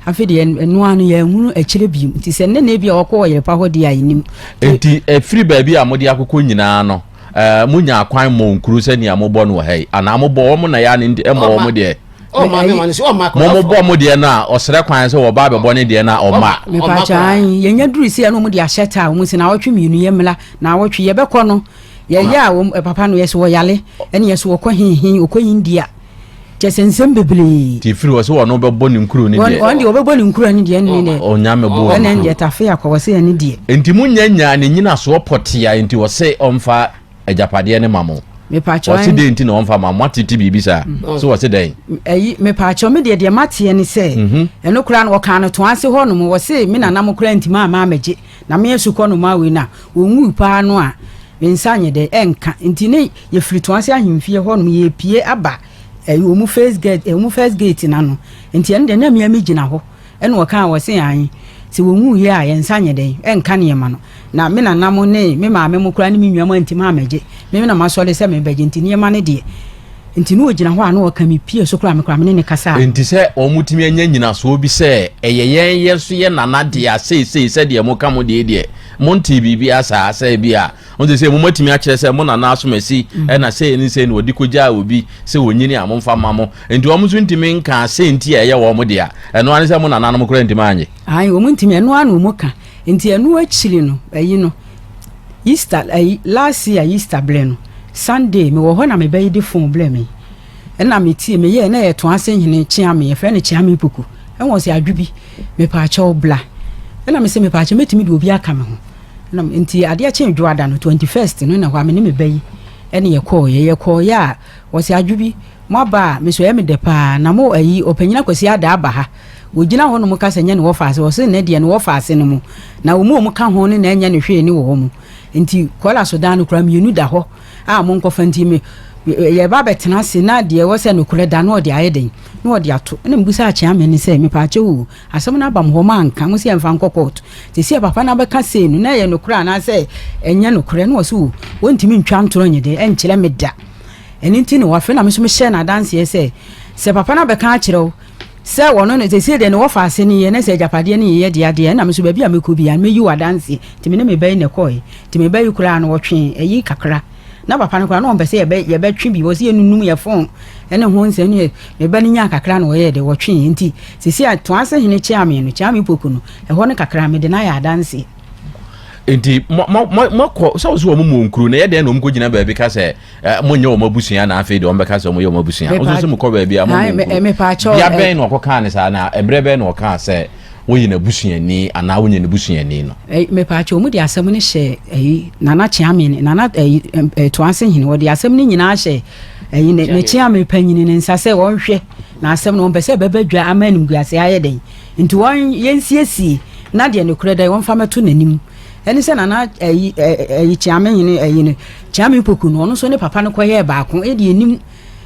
afei deɛ ɛno ano yɛ nwunu akyire bi nti sɛ nnɛ na ebi a wɔkɔ ɔyɛlepa hɔ deɛ a yɛnim. nti efiri baabi a wɔde akokɔ nyinaa no. Ɛɛ, monya akwan mmɔ nkuru sɛ nea mobɔ no wɔ ha yi anaa? Mobɔ wɔn na ɛyɛ a ne nti ɛmmɔ wɔn Ɔma. deɛ? Ɔma ne Ɛyi- ma no si ɔma akwadaa Mobɔ foforɔ. mo deɛ no a, ɔsrɛ kwan sɛ wɔba abɛbɔ ne deɛ no a, ɔma. Ɔma mepakyɛ akwadaa. ae yɛnya duru sei a na ɔmo de ahyɛ taa ɔmo se naawɔtwe mmienu yɛmmra naawɔtwe yɛbɛkɔ no yɛyɛ a wɔn papa no yɛsɛ wɔyale ɛne yɛsɛ wɔkɔ hehe wɔkɔ india kyɛ sɛ nsɛm bebree. Ti firi wɔ sɛ wɔn bɛbɔ ne nkuro ne deɛ. Wɔn deɛ wɔbɛbɔ ne nkuro ne deɛ ne deɛ. Ɔnya mɛbɔ wɔn nkuro. Ɛna deɛ tafe akɔ wɔ sɛ ɛne deɛ. Nti mo nya nya ne nyinasoɔ pɔtea nti wɔ sɛ ɔmfa agyapadeɛ ne ma mo. Mepaakyɛw ɔsi dɛn nti na ɔmfa ma mo atete biribi saa so wɔ sɛ dɛn. Ɛyi mepaakyɛw me deɛ deɛ mateɛ ne sɛ. Ɛno koraa no wɔkaa no toa ase hɔ nom wɔ sɛ me nana mo koraa nti maa maa mɛgye. Na me asukɔ nnomaa wei no a wɔnwui pa ara no a, me nsa nyɛ dɛ, ɛnka. Nti ne yɛfiri Toase Ahemfie hɔnom, yɛrepue aba ɛyi, wɔn first gate, eh, wɔn first gate no ano. Nti ɛno deɛ, na me ara megyina hɔ. Ɛna wɔkaa, wɔse, Ae, sɛ wɔnwuiɛ a, yɛn nsa nyɛ dɛn, ɛnka nneɛma no. Na me nana mo ne me maame mo koraa ne me nnuam antumi ammɛgye. Me na masɔre sɛ merebɛgye, nti nneɛma no deɛ, Enti na ogyina hɔ a na ɔka me pie so koraa me koraa me ne ne kasa a. Enti sɛ wɔtumi anya nnyinasoɔ bi sɛ ɛyɛ yɛn yɛn nso yɛ nana dea seesei sɛdeɛ moka mo deɛ deɛ montee biribiara saa sɛ bi a wɔn sɛ sɛ mo matumi akyerɛ sɛ mo nana asomasi mm. ɛna sɛ ne sɛ na wɔde kɔgyaa obi sɛ wɔnyini a momfa ma mo enti wɔn nso ntumi nka sɛ nti a ɛyɛ wɔn dea ɛno ara ne sɛ mo nananom koraa ntumi anye. ayi wɔn ntumi ɛno ara na wɔn ka Nti ɛno akyiri no ayi no Easter ayi last year Easter blɛ no Sunday me wɔ hɔ na me ba yi de phone blɛ me ɛna me tie me yɛɛ na ɛyɛ to ase hene Kyeame yɛfrɛ no Kyeame Poku ɛna ɔse Adwo bi me paakyɛw bla ɛna me se me paakyɛw mɛtumi de obi aka me ho ɛna nti adeɛ kye dwoada no 21st no na hɔ a me ne me ba yi ɛne yɛ kɔɔ yɛ yɛ kɔɔ yɛ a ɔse Adwo bi mo aba a me so ɛyɛ me dɛ paa na mo ayi ɔpanyin akwasi ada aba ha Wɔgyina hɔ nom ka sɛ nyɛ ne wɔfa ase, wɔse nnɛ deɛ ne wɔfa ase no mo, na wɔn a wɔn ka ho no na ɛnyɛ ne hwee ne wɔ hɔ mo. Nti kɔla so dan no koraa mmienu da hɔ a mo nkɔfa nti me yɛ ba bɛ tena ase na deɛ ɛwɔ sɛ nokorɛ da no ɔde ayɛ dɛn? Na ɔde ato. Ɛna me busaa Kyeame no sɛ mepaakyɛw oo asɛm no aba mo hɔ mo anka, mo se yɛnfa nkɔ court, sesie a papa no abɛka sei no na ɛyɛ nokorɛ anaa sɛ ɛnyɛ nokorɛ? Na ɔse oo wɔntumi ntwa ntorɔ nyɛ dɛn ɛnkyerɛ me da. Ɛno nti na wɔafrɛ na me nso mehyɛɛ no adanseɛ sɛ sɛ papa no abɛka akyerɛ wo, Sɛ wɔno no, seesei deɛ ne wɔfa ase no yɛ, na sɛ agyapadeɛ no yɛ yɛ dea deɛ a, ɛnna me nso baabi a mɛkɔ biara no, mɛyi wo adanseɛ. Nti me ne me ba yi na ɛkɔeɛ. Nti me ba yi koraa no, ɔtwee ayi kakra. Na papa no koraa, na ɔmpɛ sɛ yɛbɛ, yɛbɛtwe bi. Ɔse yɛnnunum yɛn fon ne ho nsɛm ne yɛ. Me ba no nyaa kakra na ɔyɛɛ dɛ, ɔtweeɛ. Nti seesei a Toase hene Kyeame no, Kyeame Poku no, ɛhɔ no kakra no, mede no ayɛ adanseɛ. Nti mo, mo, mo, moakɔ, sɛ wo se wɔn mmɔ nkuro, na ɛyɛ dɛn na wɔn kɔgyina baabi ka sɛ, Eh, monyɛ wɔn abusua na afei deɛ wɔbɛka sɛ wɔyɛ wɔn abusua nso sɛ mokɔ baabi a monkuro bia bɛn na ɔkɔkaa ne saa na ɛberɛ bɛn na ɔkaa sɛ woyɛ n'abusuani anaa wonyɛ ne busuani no mepaakyɛ wɔn de asɛm no hyɛ ɛyi nana kyeame ne nana ɛyi ɛtoanse hene wɔde asɛm no nyinaa hyɛ ɛyi ne ne kyeame panyini ne nsa sɛ wɔnhwɛ na asɛm no wɔn pɛ sɛ ɛbɛbɛ dwa ama animguase ayɛ dɛn nti wɔn yɛnsiesie na deɛ ne korɛ dɛ wɔn fa mɛto n'anim ɛne sɛ nana ɛyi ɛyi kyeame hene ɛyi ne Kyame Opoku no ɔno nso ne papa no kɔ yɛɛ baako ɛdeɛ nnim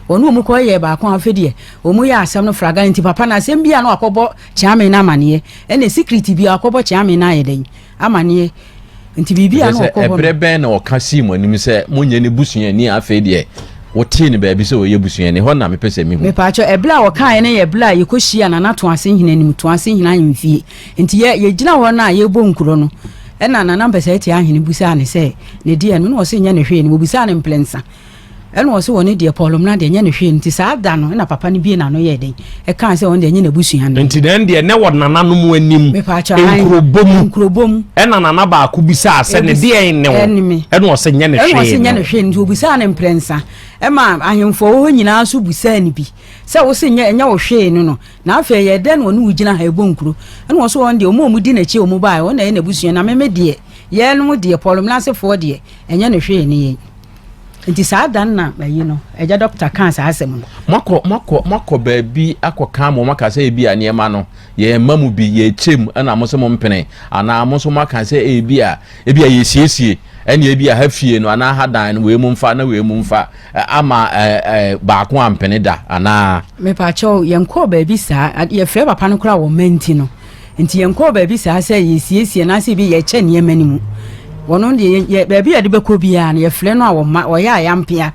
ɔne ɔmu kɔ yɛɛ baako afei deɛ ɔmu yɛ asɛm no fraga nti papa no asɛm bi a na wakɔ bɔ Kyame no amaneɛ ɛna secret bi a wakɔ bɔ Kyame no ayɛ dɛn amaneɛ nti biribi a na ɔkɔ hɔ no. Ɛberɛ bɛn na ɔka sii mo anim sɛ mo nyɛ ne busuani afei deɛ wotee no baabi sɛ ɔyɛ busuani hɔ na mepɛ sɛ mehu. Mepaakyɛw ɛberɛ a ɔkaeɛ no yɛ ɛberɛ a yɛkɔ hyia Nana Toasenhene anim Toasenhene ahemfie Nti yɛ yɛgyina hɔ no a yɛbɔ nkuro no, ɛna Nana Mpɛsɛɛte Ahene busaa no sɛ ne deɛ no, na ɔse nyɛ ne hwee no, wɔbusaa no mprɛnsa, ɛna ɔse ɔno deɛ Paul Mmena deɛ nyɛ ne hwee no, nti saa da no na papa no bue n'ano yɛɛ dɛn, ɛkaa sɛ ɔno deɛ ɛnyɛ n'abusua no. Nti na ɛndeɛ na ɛwɔ nananom anim, nkurobɔ mu, nkurobɔ mu, ɛna nana baako busaa sɛ ne deɛ ne wo, ɛne me, ɛna ɔse nyɛ ne hwee no, ɛna ɔse nyɛ ne hwee no, nti wɔbusaa no mprɛnsa, ɛma ahemfoɔ wɔ hɔ nyinaa nso busaa no bi, sɛ wose nyɛ ɛnyɛ wo hwee no no, Na afei ɛyɛɛ dɛ na wɔne wo gyina ha ebɔ nkuro, ɛna wɔso wɔn deɛ wɔn a wɔdi n'akyi a wɔn baeɛ wɔn na ɛyɛ n'abusua na me me deɛ yɛnom deɛ Paul Mena asefoɔ deɛ ɛnyɛ no hwee ne yɛn. Nti saa da no na ayi no Agya Doctor kaa saa asɛm no. Moakɔ moakɔ moakɔ baabi akɔka ma wɔn aka sɛ ebi a nneɛma no yɛn mma mu bi yɛkyɛ mu ɛna mo nso mo mpene anaa mo nso moaka sɛ ebi a Ebia yɛresiesie, ɛnneɛ ebia ha fie no anaa ha dan no, wei mu mfa na wei mu mfa, ama baako ampene da anaa? Mepakyɛw, yɛnkɔɔ baabi saa. Yɛfrɛɛ papa no koraa wɔ mma nti no. Nti yɛnkɔɔ baabi saa sɛ yɛresiesie anaasɛ ebi yɛrekyɛ nneɛma no mu. Wɔno deɛ, baabi a yɛde bɛkɔ biara no, yɛfrɛ no a wɔ mma, ɔyɛ a yɛampea.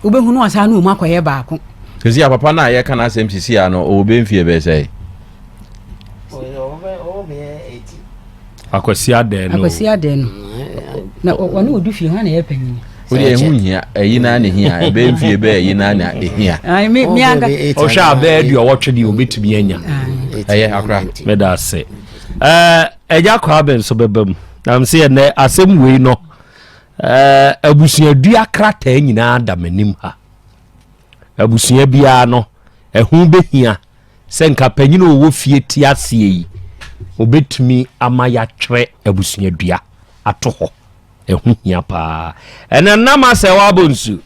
Wobɛhu no ɔsan ne wɔn akɔyɛ baako. Seesei a papa no a yɛreka n'asɛm seesei a no, ɔwɔ bɛyɛ mfeɛ bɛyɛ sɛn? akwasi adɛn no akwasi adɛn no na ɔne ɔdu fie hɔ na yɛ panyini wode ɛho hia ɛyi naa ne hia ɛbɛyɛ mfie bɛyɛ ɛyi naa na ɛhia ɔhwɛ a bɛyɛ deɛ ɔwɔtwe deɛ ɔbɛtumi anya ɛyɛ akora meda ase ɛgya kɔ abɛn so bɛba mu nam sɛ yɛnɛ asɛm wei no abusuadua krataa nyinaa da m'anim ha abusua biara no ɛho bɛhia Sɛ nka panyin a ɔwɔ fie te aseɛ yi, ɔbɛtumi ama yɛatwerɛ abusuadua ato hɔ. Ɛho hia paa. Ɛnɛ nam asɛ wɔ abɔ nsu.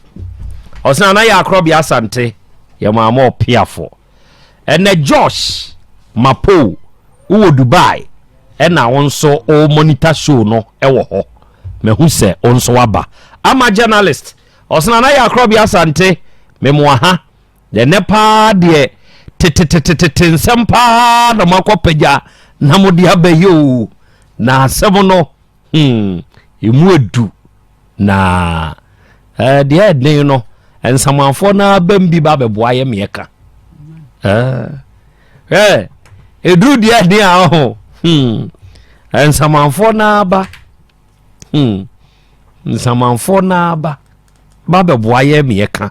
Ɔsena na yɛ akorɔbea asante. Yɛ maama ɔpeafo. Ɛnɛ Josh Mapo wowɔ Dubai ɛna wo nso o monitor show no ɛwɔ hɔ. Mahu sɛ wo nso waba. Ama journalist. Ɔsena na yɛ akorɔbea asante. Memoa ha. Ɛnnɛ paa deɛ tetetetetete nsɛm paa na moakɔpagya na mode aba yi o na asɛm no hmm, ɛmu adu na eh, deɛ ɛden no nsamanfoɔ no abam bi ba bɛboa yɛ meɛ ka ɛduru deɛ ɛden a ho hmm, nsamanfoɔ no aba hmm. nsamanfoɔ naa ba ba bɛboa yɛ meɛ ka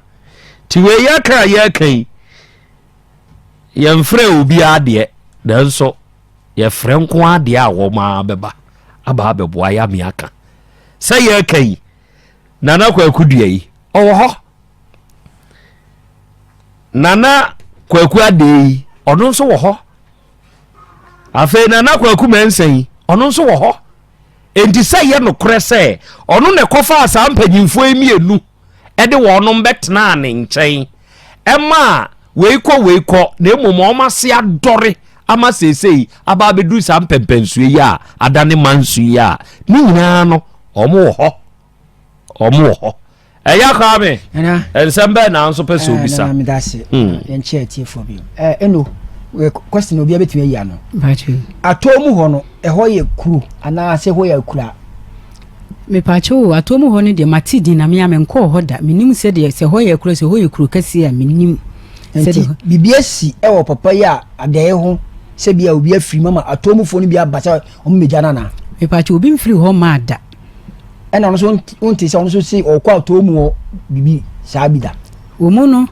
nti wei yɛ ka a yɛka yi yɛmfrɛ obi adeɛ nanso yɛfrɛ nko adeɛ a wɔn ara bɛba aba abɛboa yɛ meɛ aka sɛ yɛka yi nana kwaku dua yi ɔwɔ hɔ nana kwaku adeɛ yi ɔno nso wɔ hɔ afei nana kwaku mɛnsa yi ɔno nso wɔ hɔ Enti sɛ ɛyɛ nokorɛ sɛ ɔno na ɛkɔfaa saa mpanyimfoɔ yi mmienu de wɔnom bɛtenaa ne nkyɛn ma wei kɔ wei kɔ na mmom wɔn ase adɔre ama seesei aba abɛduru saa mpɛmpɛnsoɔ yi a adane manso yi a ne nyinaa no wɔn wɔ hɔ wɔn wɔ hɔ ɛyɛ akaa me nsɛm bɛɛ na nso pɛ sɛ eh, obisa hmm. yɛnkyɛ atiefoɔ bio eh, ɛno eh, question obiara bɛtumi ayi ano atɔɔ mu hɔ no ɛhɔ yɛ kuro anaasɛ hɔ yɛ akura mepaakyɛ o atɔɔ mu hɔ no deɛ mate din na mea menkɔɔ hɔ da menim sɛdeɛ sɛ hɔ yɛ kuro sɛ hɔ yɛ kuro kɛseɛ a menim nti biribi asi ɛwɔ papa yi a adɛɛ ho sɛ bia obi afiri mama atɔɔ mufoɔ no bi aba sɛ ɔmomɛgya no anaa mepaakyɛ obi mfiri hɔ maa da ɛna ɔno nso wonte sɛ ɔno nso se ɔkɔ atoo mu wɔ biribi saa bi da wɔn mu no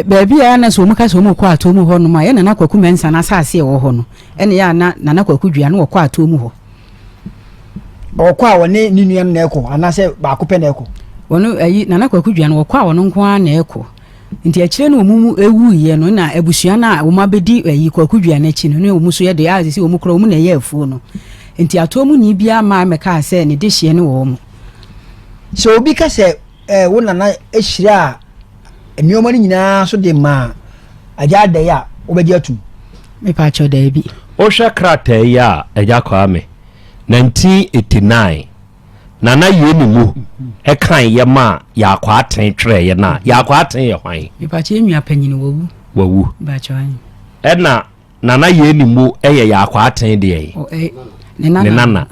baabi a na sɛ wɔn ka sɛ wɔn kɔ atoo mu hɔ nom a yɛ nana kwaku mɛnsa na asase a ɛwɔ hɔ no ɛna yɛ ana nana kwaku dua no wɔkɔ atoo mu hɔ ɔkɔ a wɔne ne nua no na ɛkɔ anaasɛ baako pɛ na ɛkɔ wɔn ayi nana kwaku dua no wɔkɔ a wɔn nko ara na ɛkɔ Nti akyire no wɔn mu wuiɛ no na abusua no a wɔn abɛdi ayi Kwaku Dua no akyi no ne wɔn nso yɛ deɛ a sisi wɔn korɔ wɔn na ɛyɛ afuo no. Nti atoɔ mu ni biara mmaa mmɛkaa sɛ ne dehyeɛ ne wɔn. Sɛ obi ka sɛ eh, wo nana hyiraa nneɛma no nyinaa so de maa Agya Adai a, wobɛgye atum? Mepaakyɛw daabi. Wohwɛ krataa yi a, Agya Kwame, 1989. na na yɛn ne mu ɛkan yɛ ma Yaakɔ Aten twerɛ yɛ na Yaakɔ Aten yɛ hwan? Mepatwa yɛn nua panyin wawu. Wawu. Mepatwa yɛn. Ɛna nana yɛn ne mu ɛyɛ Yaakɔ Aten deɛ yi. Ne nana. Ne nana.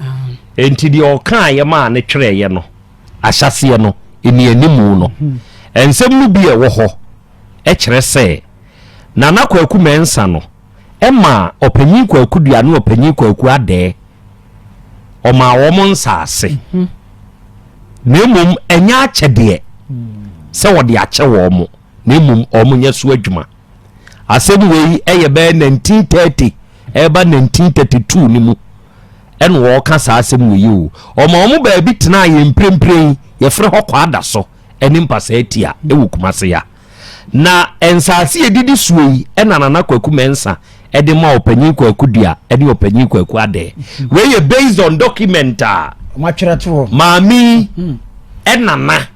Enti deɛ ɔkan yɛ ma ne twerɛ yɛ no ahyɛseɛ no ɛni animu no. Nsɛm no bi ɛwɔ hɔ ɛkyerɛ sɛ nana kwaku mɛnsa no ɛma ɔpanyin kwaku dua ne ɔpanyin kwaku adɛɛ ɔmaa wɔn nsaase, na mmom ɛnyɛ akyɛdeɛ sɛ wɔde akyɛ wɔn, na mmom wɔn nyɛ so adwuma. Asɛm wei ɛyɛ bɛyɛ 1930 ɛreba 1932 no mu ɛna wɔka saa asɛm wei o. Ɔma wɔn baabi tenaa yɛn mprempren yɛfrɛ hɔ Kwada so ɛne Mpasaa Tia ɛwɔ Kumase ya. Na nsaase a ɛdidi soɔ yi na Nana Kwaku Mensah de ma Ɔpanyin Kwaku Dua ne Ɔpanyin Kwaku Adɛɛ. Wei yɛ based on document a maame yi mm-hmm. Nana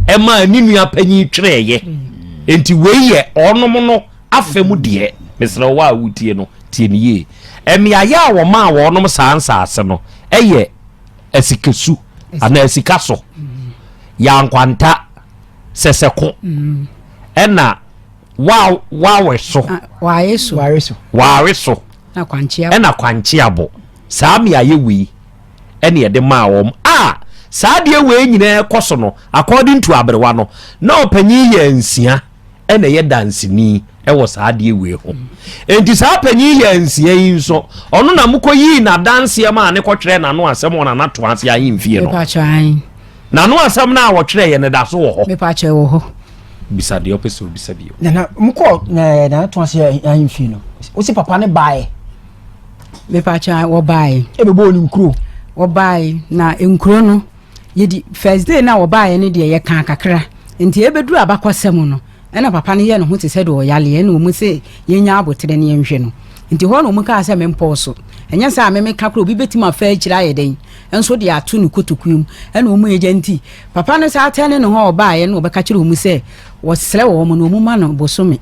ɛma ne nua panyin twerɛeɛ. Mm-hmm. Enti wei yɛ ɔnom no afɛ mu deɛ mesrɛ wɔ a wotie no tie no yie. Mmeaeɛ a wɔmaa wɔnom saa nsaase no ɛyɛ asikasu anaa asika so mm-hmm. yɛ ankwanta sɛ sɛ ko mm. ɛna wawe so ah, ware so ware so ɛna kwankye abɔ saa mmeaeɛ wei ɛne ɛde maa wɔn a saa deɛ wei nyinaa kɔ so no according to aberewa no na ɔpanyin yɛ nsia ɛna ɛyɛ danseni wɔ saa adeɛ wei ho enti saa panyin yɛ nsia yi nso ɔno na mokɔ yii n'adanseɛ ma a ne kɔtwerɛ n'ano asɛm wɔ n'anato ase ahemfie no n'ano asɛm no a wɔtwerɛ yɛ ne da so wɔ hɔ bisa deɛ ɔpɛ sɛ obisa bio nana mokɔ eh, n'anato ase ahemfie no wosi papa ne baeɛ mepakya wɔbaeɛ ɛbɛbɔɔ ne nkuro wɔbaeɛ na nkuro no yɛdi first day no a wɔbaeɛ no deɛ yɛkaa kakra nti ɛbɛduru abakɔsɛm no Nna papa no yɛ no ho tse sɛ dɛ ɔyare, nna ɔmu se yenya aboterɛ na yɛnhwɛ no. Ntsi hɔ na ɔmu kaa sɛ menpɔw so. Nnyɛ saa a me meka koraa, obi betum afa ekyir ayɛ dɛn nso de ato no kotokuo mu. Nna ɔmu egya ntsi papa no saa tɛnee no ho a ɔbaeɛ no ɔbɛka kyerɛɛ ɔmu sɛ ɔserɛ wɔn na ɔmu ma no bosome.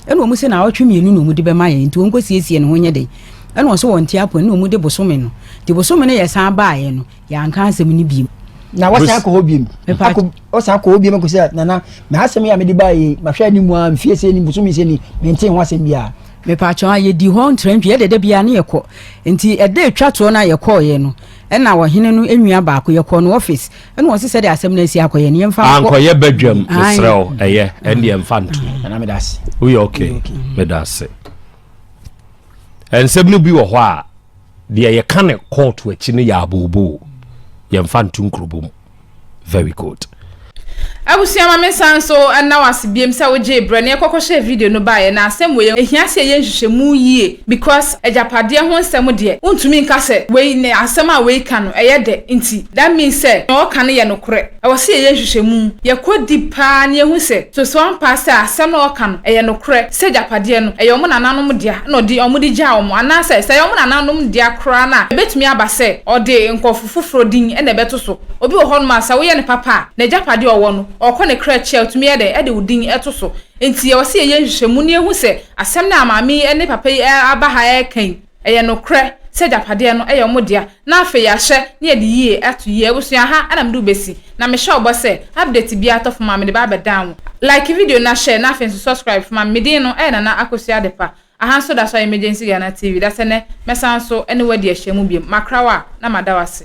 Nna ɔmu se naawɔtwe mienu na ɔmu de bɛma yɛn nti ɔnkɔ siesie ne ho nyɛ dɛn. Nna ɔse ɔnte apon, nna ɔmu de bosome no. Nti bosome no yɛ san baeɛ no, yɛanka asɛm no biem na wɔsan akɔ hɔ biem akɔ wɔsan akɔ hɔ biem akɔ sɛ nana mɛ asɛm yi a mede baa yi mahwɛ anim mu a mfie sɛ ni bosomi sɛ ni mente ho asɛm biara mepatwɔn a yɛdi hɔ ntrantwi yɛde da biara ne yɛkɔ nti ɛda atwa toɔ no a yɛkɔɔyɛ no ɛna ɔhene no nnua baako yɛkɔɔ no office ɛna wɔn sɛ de asɛm no asi akɔyɛ no yɛmfa nkɔ ankɔyɛ badwam mesrɛ wo ɛyɛ ɛndeɛ mfa ntom woyɛ okay meda ase nsɛm no bi wɔ hɔ a deɛ yɛka ne kɔɔto akyi no yɛ abooboo yɛmfa nto nkurobo mu very good abusua ma me nsa nso ɛna wase biem sɛ wogyee berɛ na yɛkɔkɔhyɛ video no baeɛ na asɛm wei ɛhia sɛ yɛyɛ nhwehwɛmu yie because agyapadeɛ ho nsɛm deɛ wontumi nka sɛ wei ne asɛm a wei ka no ɛyɛ dɛ nti that means sɛ na ɔka no yɛ nokorɛ ɛwɔ sɛ yɛyɛ nhwehwɛmu yɛkɔ deep paa na yɛhu sɛ so so ampa sɛ asɛm na ɔka no ɛyɛ nokorɛ sɛ agyapadeɛ no yɛ wɔn nananom dea na ɔde wɔn gyaa wɔn, anaasɛ sɛ ɛyɛ wɔn nananom dea koraa no a, ɛbɛtumi aba sɛ ɔde nkurɔfo foforɔ din na ɛbɛto so. Obi wɔ hɔnom a, sɛ woyɛ no papa a, n'agyapadeɛ a ɔwɔ no, ɔkɔ ne kra akyi a, ɔtumi yɛ dɛn? Ɛde wo din to so. Enti ɛwɔ sɛ yɛyɛ nhwehwɛmu na yɛhu sɛ asɛm no a maame yi ne papa yi aba ha reka yi, Ɛyɛ nokorɛ sɛ agyapadeɛ no yɛ wɔn dea, na afei yɛahyɛ na yɛde yie ato yie abusua ha na mede wo bɛsi, na mehyɛ wo bɔ sɛ update biara tɔ fam a mede ba abɛdan wo. Like video na share na afei nso subscribe fama me, me din no yɛ Nana Akosua Adepa, aha nso da so ayɛ Emergency Ghana TV, dasɛ nɛ mɛsan nso ne wo adi ahyiamu biom, makra wo a na mada wo ase.